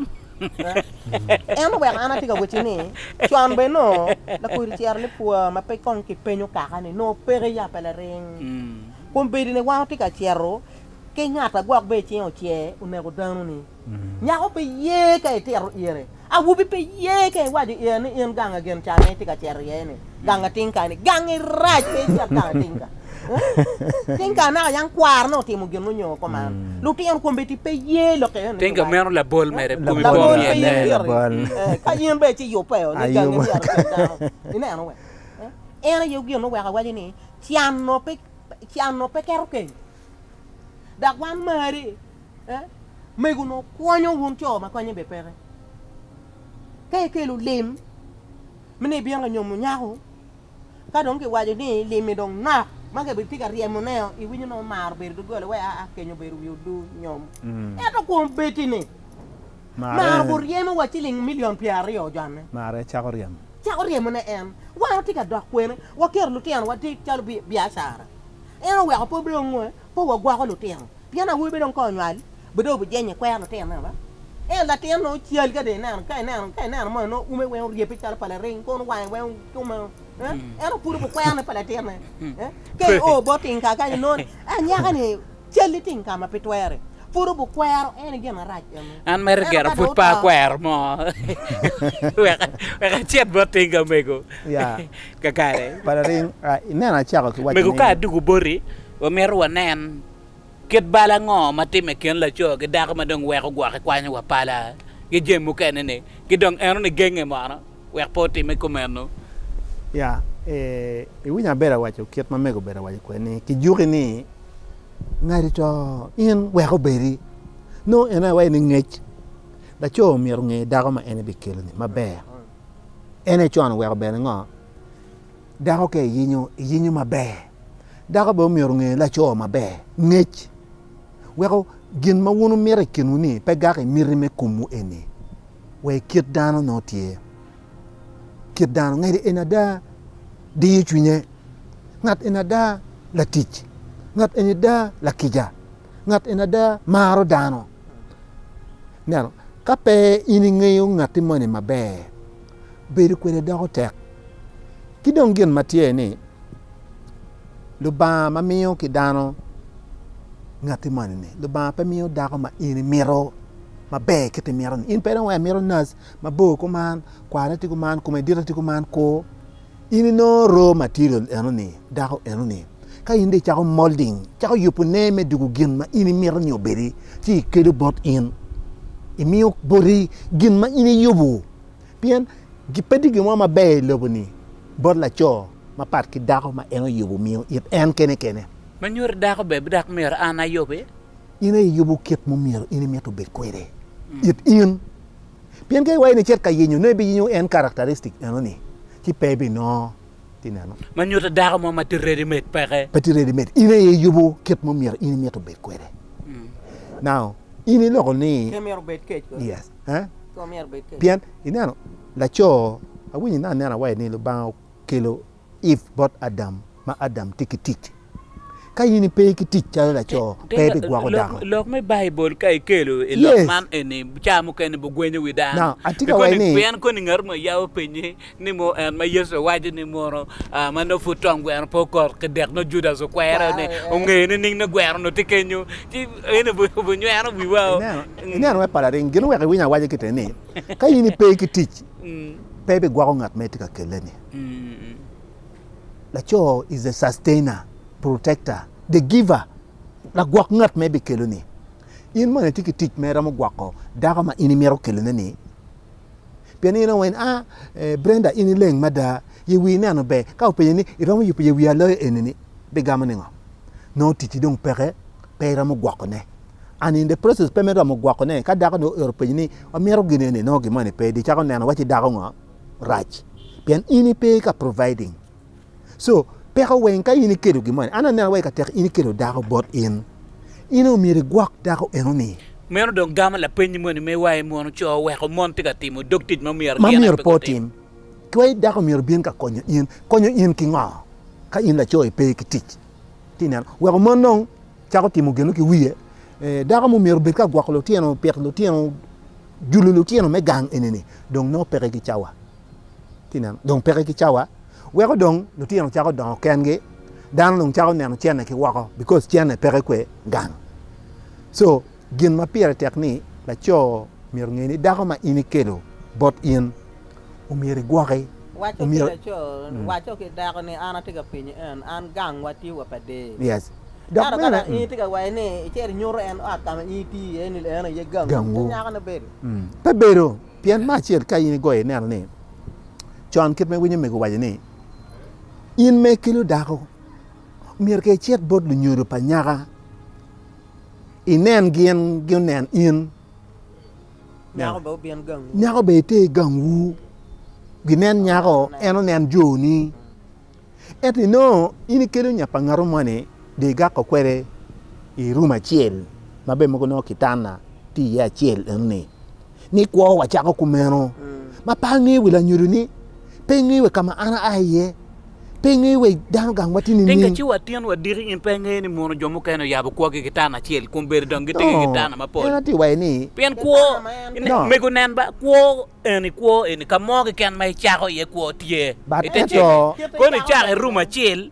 Ento wek an atye ka wacci ni, con bene nongo lakodi ciro ni pwa ma pe kong kipenyo kaka ni nongo peke ya pe laring. Kombeddi ni wango tye ka cito ki ngat agwok be icing ocer oneko dano ni. Nyako pe ye ka itito ire Awobi pe ye ka iwaco iye ni in gang a gin can ma itye ka cito iye ni, gang ating ka ni, gang i rac pe icit gang ating ka. Ting ka naka yang kwaro ni otimo gin munyo ko man. Lutino kombeddi pe ye lok iye ni. Ting ka meno labol mere
komi po Labol pe ye myel. piri. Ka
in bene ci yubbe o ni gangi myero ocit dano. Ineno we? En aye gin weko awaco ni can o pe can o pe keto keny. Dok wan mari, eh, mego onongo kwonyo wun co ma konye bene peke. Ka ikelo lim me ni ibino ka nyomo nyako, ka dong kiwaco ni lim-mi dong nok, ma kitye ka ryemoneo, iwinyo onongo mar obedo doggola wek aa kenyo obedo wi odur nyom. Ento kwong bedi-ni, mar oguryemo wa ciling milion pyeraryo ojanne. Mare cako ryemo.
Cako ryemone
en. Wan watye ka dok kwene, waketo lutinowa tye calo biacara. En oweko pe wabedo ongo, pe wagwoko lutino, pien awobi pe dong ka onywal be dong obijenyo ikwer lutino meno ba? Ento latin nongo cal ka dong ineno, ka ineno, ka ineno moni nongo ume weng oryebbe calo pa laring, kono wange weng ome o, eh? Ento pud obikwerne pa latinne, eh? Ka i o bot tingka kany inongo ni, ah nyaka-ni calli tingka ma pe twere, pud obikwero en i gin marac eno. An meri Ento gera ka
pud dong pe oto, akwero mo wek wek acit bot tingka omego. Yeah. kakare.
Mego ka aduku boti,
wamito wanen kit bal ango ma timme i kin laco ki dako ma dong weko gwok ikwanyo wa pala ki jami mukene ni, ki dong eno ni genge mono wek pe otimme kumeno. Ya,
i winya abedo awaco kit ma mego obedo awaco kwede ni, ki juki ni ngadi to in wek obedi. Nongo en aye waco ni ngec laco myero onge dako ma en bikelo ni maber. En aye con oweko bene ngo? Dako ka iyinyo, iyinyo maber. Dako bene omyero onge laco maber. Ngec weko gin ma wun wumito i kinwu ni pe gak i miti me komwu eni. Wa i kit dano nongo tye. Kit dano ngec en ada diyo cwinye. Ngat eni ada latic. Ngat eni ada lakica. ngat eni ada maro dano. Ineno, ka pe in ingeyo ngatti moni maber, bedo kwede doko tek. Ki dong gin ma tye ni, Lubanga ma miyo ki dano ngatti moni-ni, Lubanga pe miyo dako ma in imito maber kit imito-ni. In pe dong wai imito naci mabor kuman, kwarne tye kuman, kome dite tye kuman, kur. In inongo roo matirial enoni, dako enoni, ka in dong icako molding, icako yubo nee me dwogo gin ma in imito ni obedi ci ikelo bot in, imiyo boti gin ma in iyubo. Pien pe tye gin mo maber i lobo-ni bot laco mapat ki dako ma en oyubo miyo it en kene kene. Ma nyuto dako
bene dok myero an ayube. In aye iyubo
kit ma myero in imito obed kwede it in. Pien ka iwaco ni icit ka yenyo, nongo ibiyenyo en karacteristic eno-ni, ci pe ibinongo. Ti neno. Ma nyuto dako mo
ma tye ready made peke. Pe tye ready made. In aye
iyubo kit ma myero in imito bed kwede. Now, in iloko ni. Pe myero obed kec kono.
Yes. Eh? Pe myero
obed
kec. Pien, ineno,
laco, awinyo ine anena wai ni Lubanga okelo. If bot Adam ma Adam tye ki tic. Ka in ipe ki tic calo laco, pe ibigwoko dako. Lok me Baibul
ka ikelo i lok man eni, Ca mukene bugwenyo wi dano. Pien
koni ngat mo yabo
penyi ni mo en ma Yecu owaco ni mono ma nongo pud tong gweno pe okot ki dek nongo Judas okwere ni ongeyo nining ni gweno onongo tye kenyo? Ci eni obunyweno wiwa-o. Ineno me palaring,
gin oweko iwiny awaca kite ni, ka in ipe ki tic, Pe ibigwoko ngat ma itye ka kelle-ni. Laco is the sustainer, protector, the giver, lagwok ngat ma ibikeloni. In mono itye ki tic ma iromo gwoko dako ma in imito kelone-ni? Pien in onongo in a, Brenda in ileng mada, ye wii neno ber, ka openyi ni iromo yubo ye wii aloyo eni-ni, bigamo ningo? Nongo ticci dong peke, pe iromo gwokone. and in the process pe me romo gwoko ne ka dako ni oero penyi ni amito gin eni nongo gin moni pe di cako neno waci dako ngo rac pien in ipe ka providing so peko weng ka in ikelo gin moni an aneno waci ka tek in ikelo dako bot in in o myero igwok dako eno ni Meno dong gamo
lapeny moni me waye mono co oweko mon tye ka timo dog tic ma myero gin aye pe gutim.
Ki waci dako myero obin ka konyo in, konyo in ki ngo ka in laco ipe ki tic? Ti neno weko mon nongo Cako timo geno ki wiye. Dako mo myero obed ka gwoko lutino, pito lutino, julo lutino me gang enini dong nongo peke ki cawa. Kineno? Dong peke ki cawa. Weko dong lutino cako dongo kengi, dano dong cako neno cene ki woko because cene peke kwe gang. So, Gin ma pire tek ni laco myero onge ni dako ma in ikelo bot in omyero igwoki. Waco ki laco,
waco ki dako ni an atye ka penyi en, an gang wa tye wa pa dee. Yes. Dok Ento
ka bene dong in
itye ka waco ni icito inyuto en ot ka ma in itye iye ni en aye gangwu, Gangwu. ci nyakone bedo. mm, pe bedo.
Pien me acel ka in igoyo ineno ni con kit ma iwinyo omego owaco ni in ma ikelo dako myero ka icit bot lunyodo pa nyaka, inen gin gunen in. Nyako
be obin gangwu. Nyako be ite i
gangwu. Ginen nyako, en onen joni. Ento inongo in ikelo nya pa ngatu moni de igako kwede i rum acel ma be mogo nongo kitana tye iye acel enoni. ni kwowa cako kumeno. Ma pe angeyo wi lanyodo ni, pe ingeyo wi ka ma an aa iye, pe ingeyo wi dano gang ma tye nining. Tika ci watino wadiki
in pe ingeyo ni mono jo mukene oyabo kwogi ki tana acel kun bedo dong gitiki ki tana mapol? En atir waye ni.
Pien kwo,
mego nen ba, kwo eni, kwo eni, ka mo keken ma icako iye kwo tye, ite cege.
Koni icako i
rum acel,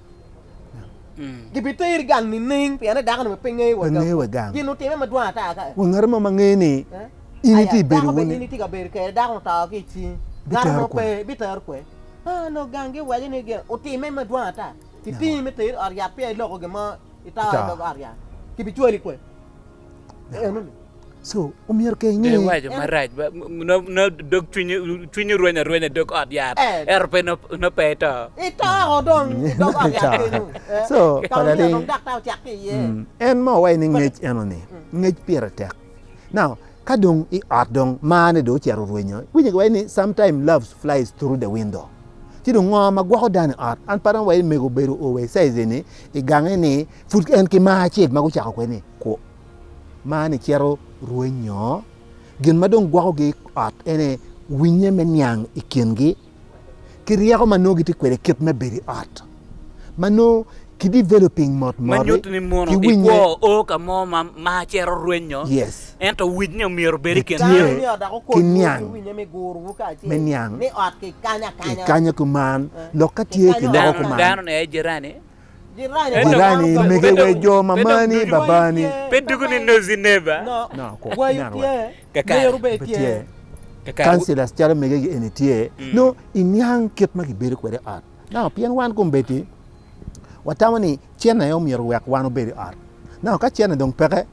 Gibiteri gang nining? Pien ni dako-ni bene pe ngeye wa gang. Gin otime madwong ata kaka. Wa ngat mo ma ngeye ni
in itye ka bedo wunu. In itye ka bedo kwede, dako-nu
to ki i cingi. Ngat mo pe bitero kwede. Onongo gang giwaco ni gin otime madwong ata. Kitingi me teri i ot yat peya iloko gin mo, ito i dog ot yat. Kibicwali kwede.
Giwaco marac ba,
nongo dog cwinye rweny arwenya i dog ot yat, ento pe
nongo pe
eto.
En mo wa ni
ngec enoni, ngec pire tek. Now, ka dong i ot dong marne dong ocito orwenyo, winyo giwaco ni sometimes love flies through the window. Ci dong ngo ma gwoko dano i ot? An pa dong awaco ni mego obedo o wa i size eni, i gang eni, Pud en ki mar acel ma gucako kwede-ni kwo. Mar-ni cito rwenyo. Gin ma dong gwokogi i ot ene winye me niang i kingi ki ryeko ma nongo gitye kwede kit me bedo i ot ma nongo ki developing mot moti. Me nyuto ni muno i
kwo o ka mo ma mar cito rwenyo, ento winye
omyero
obed i kin jami. Ki niang
me niang
kikanya
kuman lok ka tye ki loko kuman.
Jirani
mege wek jo ma mani babani. Pe doko ni nozi
neba.
Councilors
calo mege gi eni tye. Mm. No iniang kit ma gibedo kwede i ot. No pien wan kombeddi watamo ni cen aye omyero wek wan obed i ot. No ka cen dong peke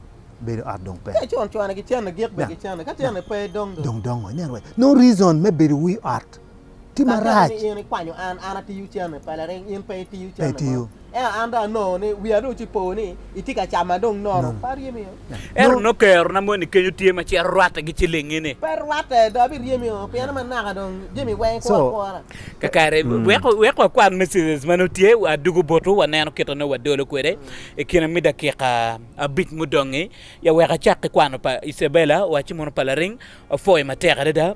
bedo ot dong pe. Ka cwan cwana ki cene gik
be ki cene. Ka cene pe dong dong. Dong dongo. Nen wek. No
reason me bedo wi ot. tye marac. Kadi bed ni in ikwanyo an, an
atiyo cente pa laring, in pe itiyo cente mo. Ento an dong anongo ni wiya dong ci po ni itye ka cama dong nono. Pe aryemio. Ento nongo kerona
moni kenyo tye ma cito rwatte ki cilingi-ni. Pe rwatte, dong
abiryemio pien ma naka dong jami weng kwo akwora. Kakare,
wek wakwan messages ma nongo tye, adugo botwu waneno kit ma nongo wadolo kwede i kine me dakika abic mudong-ngi. Ya wek acak ki kwano pa Isabella, waci mono pa laring. Apwoyo matek adada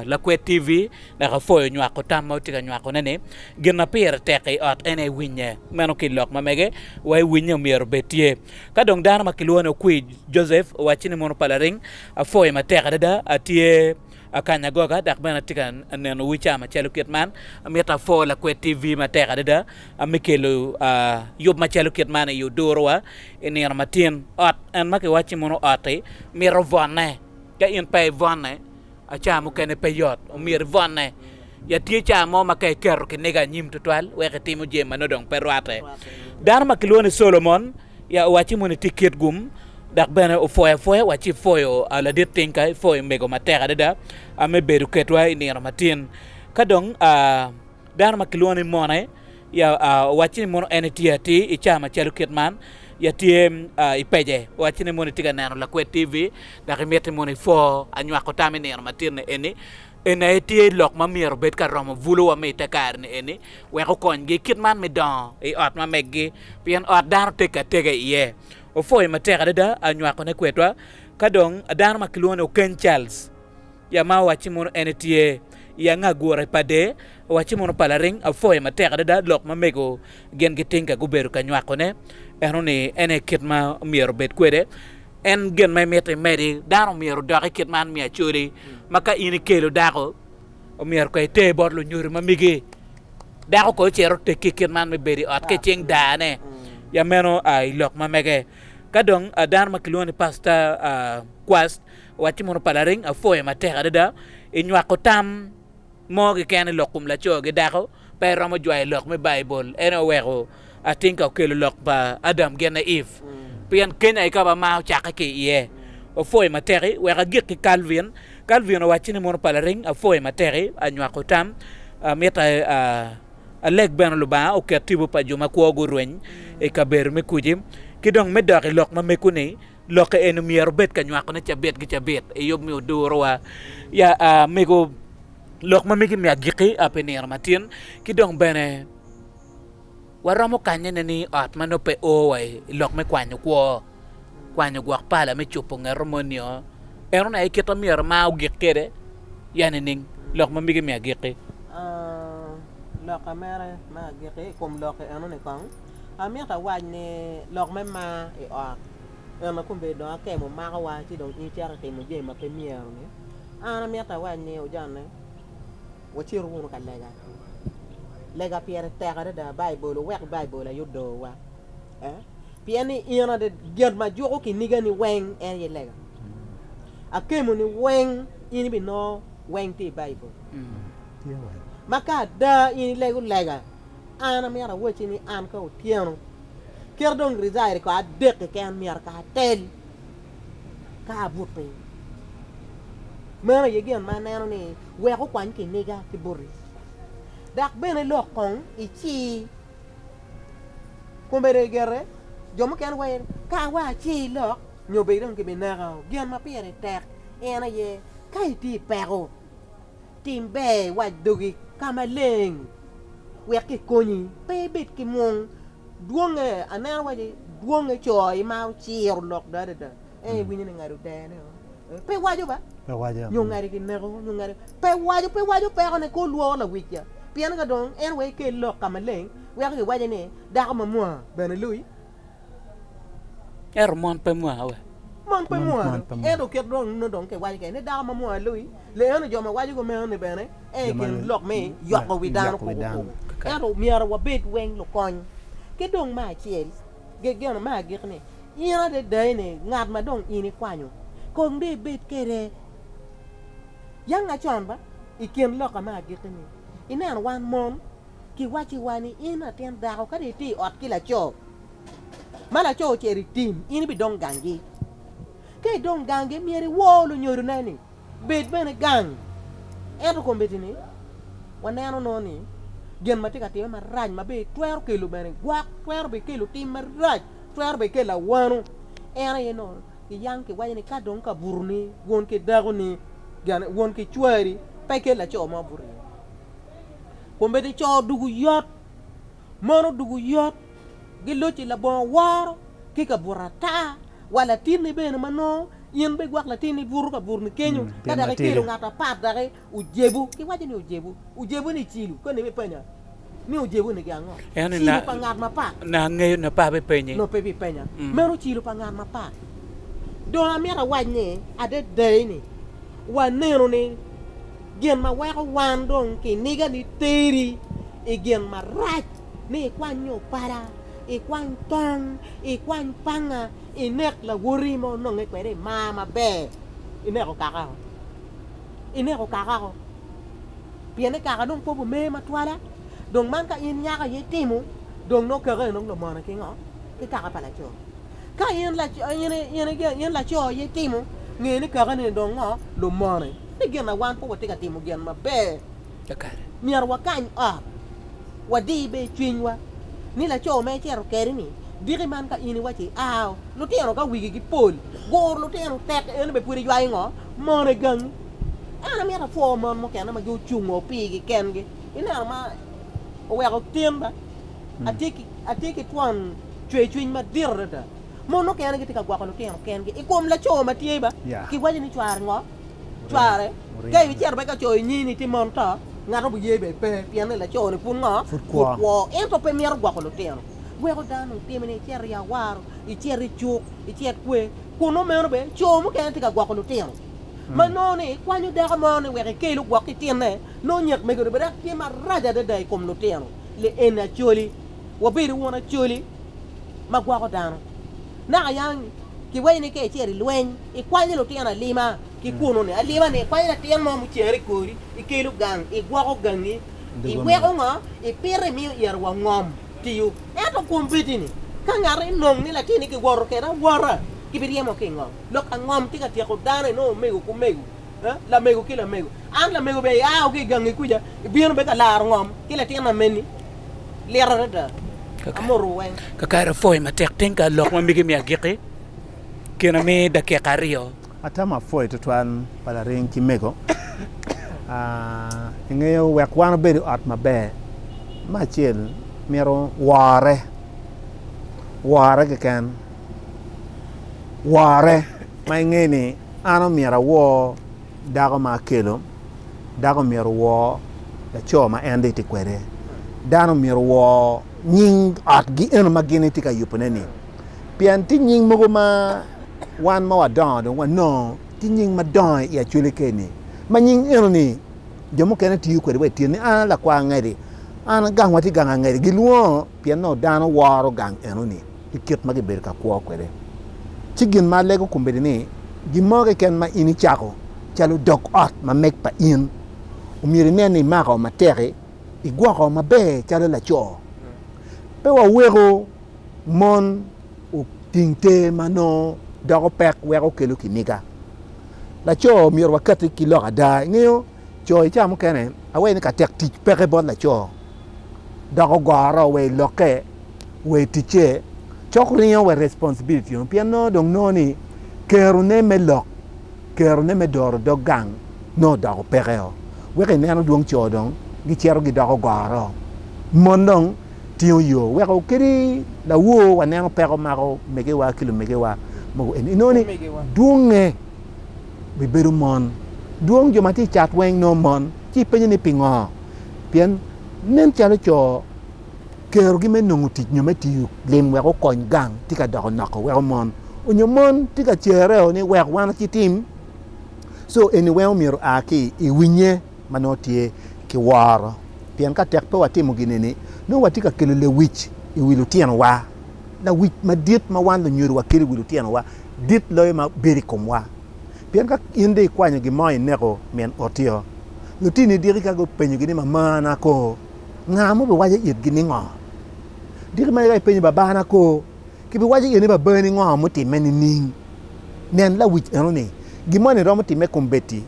Lakwed TV dok apwoyo nywako tam ma wutye ka nywakone-ni. Gin ma pire tek i ot en aye iwinye, meno ki i lok ma mege wa iwinye myero obed tye. Ka dong dano ma kilwongo ni Okwi Joseph owacci ni mono pa laring, apwoyo matek adada. Atye akanyo agoga dok bene atye ka nenowu i caa macalo kit man. Amito apwo Lakwed TV matek adada me kelo yub macalo kit man i Odurowa i nino matin. Ot en ma kiwacci mono ot-ti mito vonne. Ka in pe ibwone, aca mukene pe yot, omyero ibwone. Ya tye ca mo ma ka iketo kiniga anyim tutwal wek itimo jami ma nongo dong pe rwatte. Dano ma kilwongo ni Solomon ya owacci moni tye kit gum, dok bene opwoyo apwoya wacci ipwoyo ladit tingka, ipwoyo mego matek adada me bedo ketwa i nino matin. Ka dong a. Dano ma kilwongo ni mone ya owacci ni mono en etye atir i cawa macalo kit man, ya tye i pece owacci ni mono itye ka neno lakwed TV dok imiti mono ipwo anywako tam i nino matit-ni eni. Eni aye tye lok ma myero obed ka romo buluwa me i te kare-ni eni wek okonygi kit man me dongo i ot ma meggi pien ot dano teggi atega iye. Opwoyo matek adada anywakone kwedwa. Ka dong dano ma kilwongo ni Okeny Charles. Ya ma owacci mono en etye i anga gure pa de, owacci mono pa laring apwoye matek adada lok ma mego gin giting ka gubedo ka nywako ne, eno ni ene i kit ma myero obed kwede. En gin ma imito imedi, dano myero odok i kit man mi acoli, ma ka in ikelo dako, omyero ka iter bot lunyodo ma migi, dako ko ocito teki i kit man mi bedo i ot ka icing daa ne, ya meno a ilok ma mege. Ka dong a dano ma kilwongo ni pasta a Quast, Wacci mono pa lareng apwoyo matek adada i nywako tam mo keken i lok kom laco ki dako? Pe iromo jwayo lok me Baibul. En aye oweko atinka okelo lok pa Adam genne Eve, pien kenya i kaba mar ocakke ki iye. Opwoyo mateki wek agik ki Calvin. Calvin owacci ni mono pa lareng apwoyo mateki anywako tam. Amito aleg bene Lubanga oket tipo pa jo makwo gurweny i kabedo me kuci. Ki dong me dok i lok mameko ni, lokke eni myero obed ka nywakone cabit ki cabit i yub me odurowa. Ya amego lok ma migi me agikki ape nino matin ki dong bene waromo kanyene ni ot ma nongo pe o wa i lok me kwanyo kwo, kwanyo gwok pala me cupo ngeto moni nio. Eno na aye kit ma myero mar ogik kwede ya nining? Lok ma migi me agikki.
Lok ma myero mar ogik kwede i kom lokke eno ni kong. Amito awac ni lok me mar i ot en aye kono dong akemo makowa ci dong in icito itimo jami ma pe myero ni. An amito awac ni ojanne wacit wunu ka lega, lega pire tek adada Baibul wuwek Baibul aye odowa eh pien ni in adada gin ma juko kinigani weng en aye lega. Akemo ni weng in ibinongo weng tye i Baibul ma ka ada in ilego lega An amyero awacci ni an ka otyeno kit dong rica eri ko adek keken myero ka atel ka abut piny. Meno aye gin ma aneno ni weko okwany kiniga ki boti. Dok bene lok kong ici kombeddi gire jo mukene waci ni ka wa aci lok nyo bedi dong kibineka. Gin ma pire tek en aye ka itye i peko. Tim ber iwac dogi ka maleng wek kikonyi pe ibed ki mwong. Dwonge, aneno waci dwonge co ma ociro lok dong adada ento iwinyo ni ngado dene o pe waco ba nyo ngade kineko nyo ngade pe waco pe waco pekone kor lworo lawicca pien ka dong en wek ikel lok ka maleng weko kiwaco ni dako mamwaa bene lui Ento
mon pe mwaa we? Mon pe mwaa do,
ento kit dong nongo dong kiwaco kene ni dako ma mwaa lui, leeno jo ma waco kumeno ni bene aye i kin lok me yoko wi dano kuku kuku. Ento myero wabed weng lukony. Ki dong me acel, gegena me agikki ni, in adada eni ngat ma dong in ikwanyo, kong dong ibed kwede yanga con ba i kin loka me agikki ni. Ineno wan mon. Kiwacci wa ni in latin dako ka dong itye i ot ki laco ma laco ocito i tim in ibidong gangi. Ka idong gangi myero iwor lunyodone ni bed bene gang. Ento kombeddi ni waneno nongo ni gin ma tye ka timme marac ma bene twero kelo bene gwok, twero bene kelo tim marac, twero bene kelo awano. En aye nongo kiyang kiwaco ni ka dong kaburuni wun ki dakoni, wun ki cwari pe ikel laco mo buroni. Kombeddi co dugu yot, mono dugu yot, giloc i labongo woro ki ka buto ata, wa latinni bene ma nongo in be gwak latinni buto ka buto ni kenyo, mm, ka daki kelo ngat apat daki ojebu, ki waco ni ojebu, ojebu ni cilu, koni me penya ni ojebu ni ango? Cilu pa ngat mapat. Na angeyo na pa
bipenyi. No pe bipenya. Mm.
Meno cilu pa ngat mapat. Dong amito awac ni adedai ni waneno ni Gin ma weko wan dong kiniga ni teri i gin marac ni ikwany nyo pala, ikwany tong, ikwany panga, inek lawoti ma ononge kwede i mar maber, ineko kaka o, ineko kaka o, pien ni kaka dong kwogo mer matwala, dong man ka in nyako aye itimo dong nongo kaka eno dong lumone ki ngo? Ki kaka pa laco. Ka in laco itimo, nge ni kakane ni dong ngo? Lumone. Ni gin ma wan pe watye ka timo gin maber.
Myero wakany
ot, wadi bed cwinywa ni laco ma icito kede ni diki man ka in iwaco i ao. Lutino ka wigi gi pol guro lutino tek en be pwod iywayo ngo? Mone gangi. An amito apwo mon mukene ma gucungo pigi kengi ineno ma oweko tin ba. Atye ki twon cwercwiny madit adada. Mon mukene gitye ka gwoko lutino kengi i kom laco ma tye ba kiwaco ni cware ngo, cware ka icito bene ka coyo inyi ni tye mon to, ngat obi ye bene pe pienni laco-ni pud ngo, pud kwo. Ento pe mito gwoko lutino. Weko dano otimi ni icito i awaro, icit i cuk, icit kwer. Kunnu meno bene co mukene tye ka gwoko lutino ma nongo ni kwanyo dako mo ni wek ekel ogwok ki tinne, nongo nyek mege-ni bene dok tye marac adada i kom lutino. le en Acholi, wabedo wun Acholi ma gwoko dano. Naka yang kiwaco ni ka icito i lweny, ikwanyo lutino alima ki kunnu-ni, alima-ni ikwanyo latin mo mucere i kori, ikelo gang, igwoko gangi, iweko ngo? Ipito imiyo iro wa ngom tiyo. Ento kwom bedi-ni, ka ngat enong ni latinne kiwoto kwede awota, kibiryemo ki i ngom. Lok angom tye ka tyeko dano, inongo omego ki omego. Lamego ki lamego. An lamego bene ia wa ki i gangi kuca, ibino bene ka laro ngom ki latin ameni. Lit adada. Amotowu weng. Kakare apwoyo matek
piny ka lok ma megi imiyo agikki kine me dakika aryo. Atamo apwoyo
tutwal pa laring ki mego. Ingeyo wek wan wabed i ot maber, me acel myero wore, wore keken, wore ma ingeyo ni An omyero awor dako ma akelo, dako omyero owor laco ma en dong etye kwede, dano omyero owor nying otgi eno ma gin etye ka yubone-ni. Pien tye nying mogo ma wan ma wadongo dong wanongo tye nying madongo i Acholi keni, ma nying eno-ni jo mukene tiyo kwede wa i tyeni. An a lakwar angedi, an gang watye gang angedi, gilwongo pien nongo dano woro gang eno-ni. ki kit ma gibedo ka kwo kwede. Ci gin ma alego kombeddi ni gin mo keken ma in icako calo dog ot ma meg pa in, omyero inen ni imako matek-ki, igwoko maber calo laco. Pe waweko mon oting te ma nongo doko pek weko kelo kiniga. Laco myero wakatti ki lok ada, ingeyo. Co i cawa mukene aweyo ni ka tek tic peke bot laco dok ogoro wa i lokke wa i ticce, cok ringo wa i responsibility meno pien nongo dong nongo ni kerone me lok, kerone me doro dog gang nongo odoko pekeo. Weko ineno dwong co dong gicito gidoko goro, mon dong tingo yo weko kadi lawor waneno peko mako megewa ki lumegewa mogo eni inongo ni dwonge. bibedo mon. Dwong jo ma tye i cat weng nongo mon. Ci ipenyo ni pingo? Pien nen calo co kerogi me nongo tic nyo me tiyo lim wek okony gang tye ka doko noko weko mon onyo mon tye ka cereo ni wek wan ci tim. Co eni weng omyero oa ki i winye. ma nongo tye ki woro. Pien ka tek pe watimo gin-ni, nongo watye ka kelo lewic i wi lutinowa. Lawic madit ma wan lunyodo wakelo i wi lutinowa dit loyo ma bedo i komwa. Pien ka in dong ikwanyo gin mo ineko min otio, lutinoni diki ka gupenyogi ni, 'Mamana kor nga ma obiwaco itgi ningo? Diki meno ka ipenyo, 'Babana kor kibiwaco iye ni babani ningo mutimme nining? Nen lawic enoni! Gin moni romo timme kombeddi.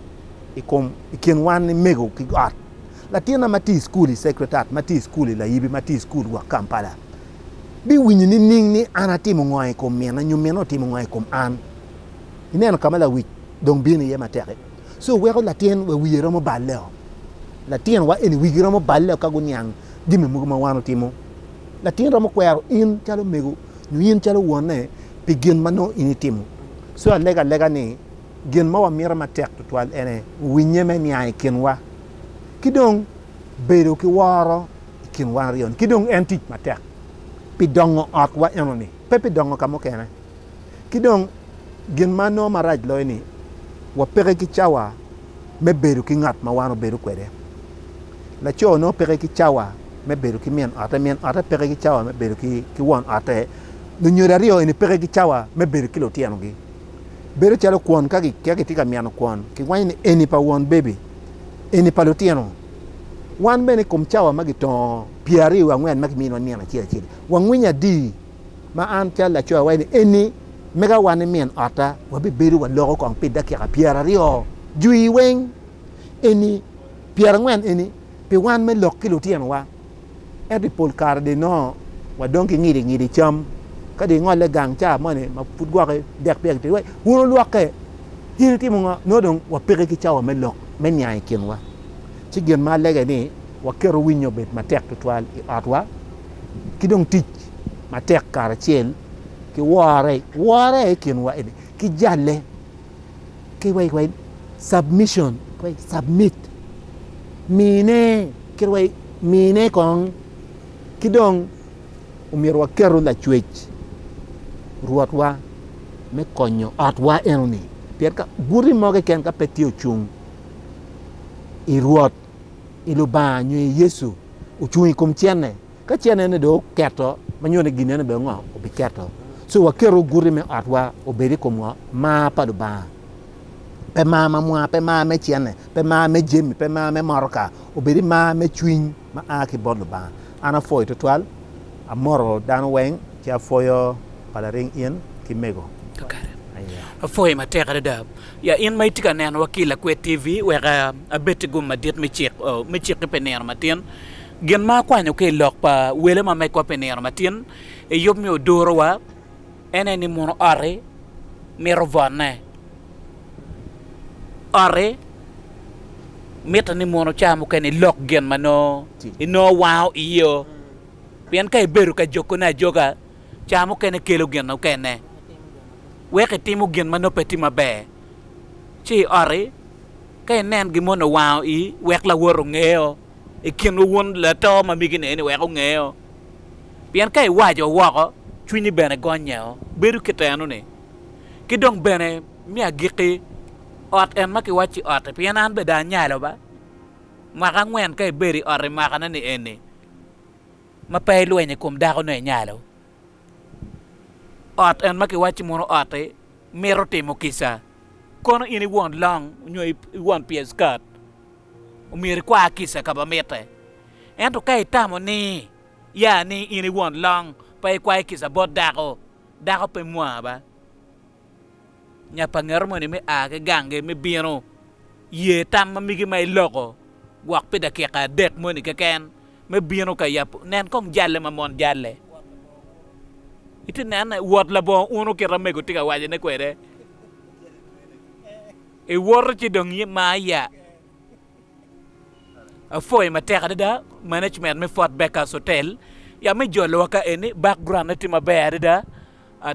i kom i kin wan ni mego ki ot. Latinna ma tye i cukul i Secretariat, ma tye i cukul i Layibi, ma tye i cukul gwok Kampala, bi winyo ni ning ni an atimo ngo i kom minna nyo minna otimo ngo i kom an. I neno ka ma lawic dong bino iye matek i. So weko latin wa wiye romo balle o. Latin wa eni wigi romo balle o ka guniang jami mogo ma wan otimo. Latin romo kwero in calo mego nyo in calo wonne pi gin ma nongo in itimo. So alega alega ni. gin ma wamito matek tutwal ene winnye me niang i kinwa ki dong bedo ki woro i kin wan aryo-ni. Ki dong en tic matek pi dongo otwa enoni, pe pi dongo ka mukene. Ki dong gin ma nongo marac loyo ni wapeke ki cawa me bedo ki ngat ma wan wabedo kwede. Laco nongo peke ki cawa me bedo ki min ote, min ote peke ki cawa me bedo ki won ote, lunyodo aryo eni peke ki cawa me bedo ki lutyenogi. Bedo calo kwon, ka kitye ka mino kwon, kiwaco ni eni pa won bebi, eni pa lutino. Wan bene i kom cawa ma gitongo pyeraryo wiye angwen ma kiminiwa nino acel acel, wangwinyo adi ma an calo laco awaco ni eni mega wan ni min otta wabibedo waloko kong pi dakika pyeraryo jwi weng, eni pyerangwen eni pi wan me lok ki lutinowa? Ento i pol kare dong inongo wadong ki ngidi ngidi cam ka dong ingole gang ca moni ma pud gwoki dek pyek tye wek wun olwokke. In itimo ngo? Nongo dong wapeke ki cawa me lok me niang i kinwa. Ci gin ma alege ni waketo winyo obed matek tutwal i otwa ki dong tic matek karacel ki wore wore i kinwa eni ki jalle. ki wa i submission, submit, mine kit wa mine kong ki dong omyero waketo lacwec Rwotwa me konyo otwa enoni pien ka guti mo keken ka pe tye ocung i Rwot, i Lubanga nyo i Yecu ocung i kom cente. Ka cennene dong oketo, ma nyuto ni ginnene bene ngo? Obiketo. So waket oguti me otwa obed i kom ngo? Mar pa Lubanga. Pe mar ma mwa, pe mar me cenne, pe mar me jami, pe mar me motoka, obedi mar me cwiny ma a ki bot Lubanga. An apwoyo twatwal, amoto dano weng, ci apwoyo pa laring in ki mego. Kakare. Aye.
Apwoyi matek adada. Ya in ma itye ka nenowa ki i Lakwed TV, wek abed ki gum madit me cik, oh, me ciki pi nino matin. Gin ma akwanyo ki i lok pa wele ma megwa pi nino matin i yub me odorowa en aye ni muno oti mito vonne. Oti mitte ni muno ca mukene ilok gin ma nongo inongo wango iyeo pien ka ibedo ka jokone ajoga ca mukene kelo gin mukene weko itimo gin ma nongo pe tye maber. Ci oti ka inen gin moni owango ii wek lawot ongeo. i kinwu wun lato ma migine-ni wek ongeo, pien ka iwaco woko, cwinyi bene gonyeo, bedo keteno-ni. Ki dong bene me agikki, ot en ma kiwacci otti, pien an beda anyalo ba, mwaka angwen ka ibedo i otti mwakane ni eni, ma pe ilwenyo i kom dako-nu inyalo. Ot en ma kiwacci muno otti, mito timo kica, kono in iwon long nyo iwon pye skat. omyero ikwar kica ka ma mitte. Ento ka itamo ni ya ni in i won long pe ikwayo kica bot dako, dako pe mwa ba. Nya pa ngeto moni me a ki gangi me bino, ye tam ma migi ma iloko gwok pi dakika adek moni keken me bino ka yabo. Nen kong jalle ma mon jalle. Iti nene, wot labongo unu kit ma mego tye ka wacone kwede. Iwoto ci dong iye ma aya. Apwoyo matek adada management me Fort Backers Hotel ya me jolowa ka eni. Background ne tye maber adada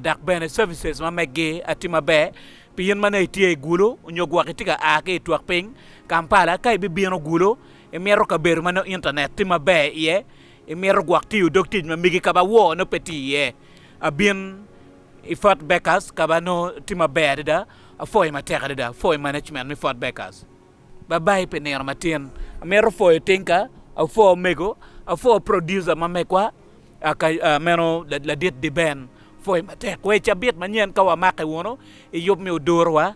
dok bene services ma meggi tye maber pi in ma nongo itye i Gulu nyo gwok itye ka a ki i twok piny Kampala. Ka ibibino Gulu imito kabedo ma nongo internet tye maber iye, imito gwok tiyo dog tic ma megi kaba woo nongo pe tye iye, abin. I Fort Becker's, ka be anongo tye maber adada, apwoyo matek adada. Apwoyo management me Fort Becker's. Babai pi nino matin. Amito pwoyo Tinka, apwo omego, apwo producer ma megwa, meno ladit Diben. Apwoyo matek. Wee cabit manyen ka wamake wunu i yub me oduruwa.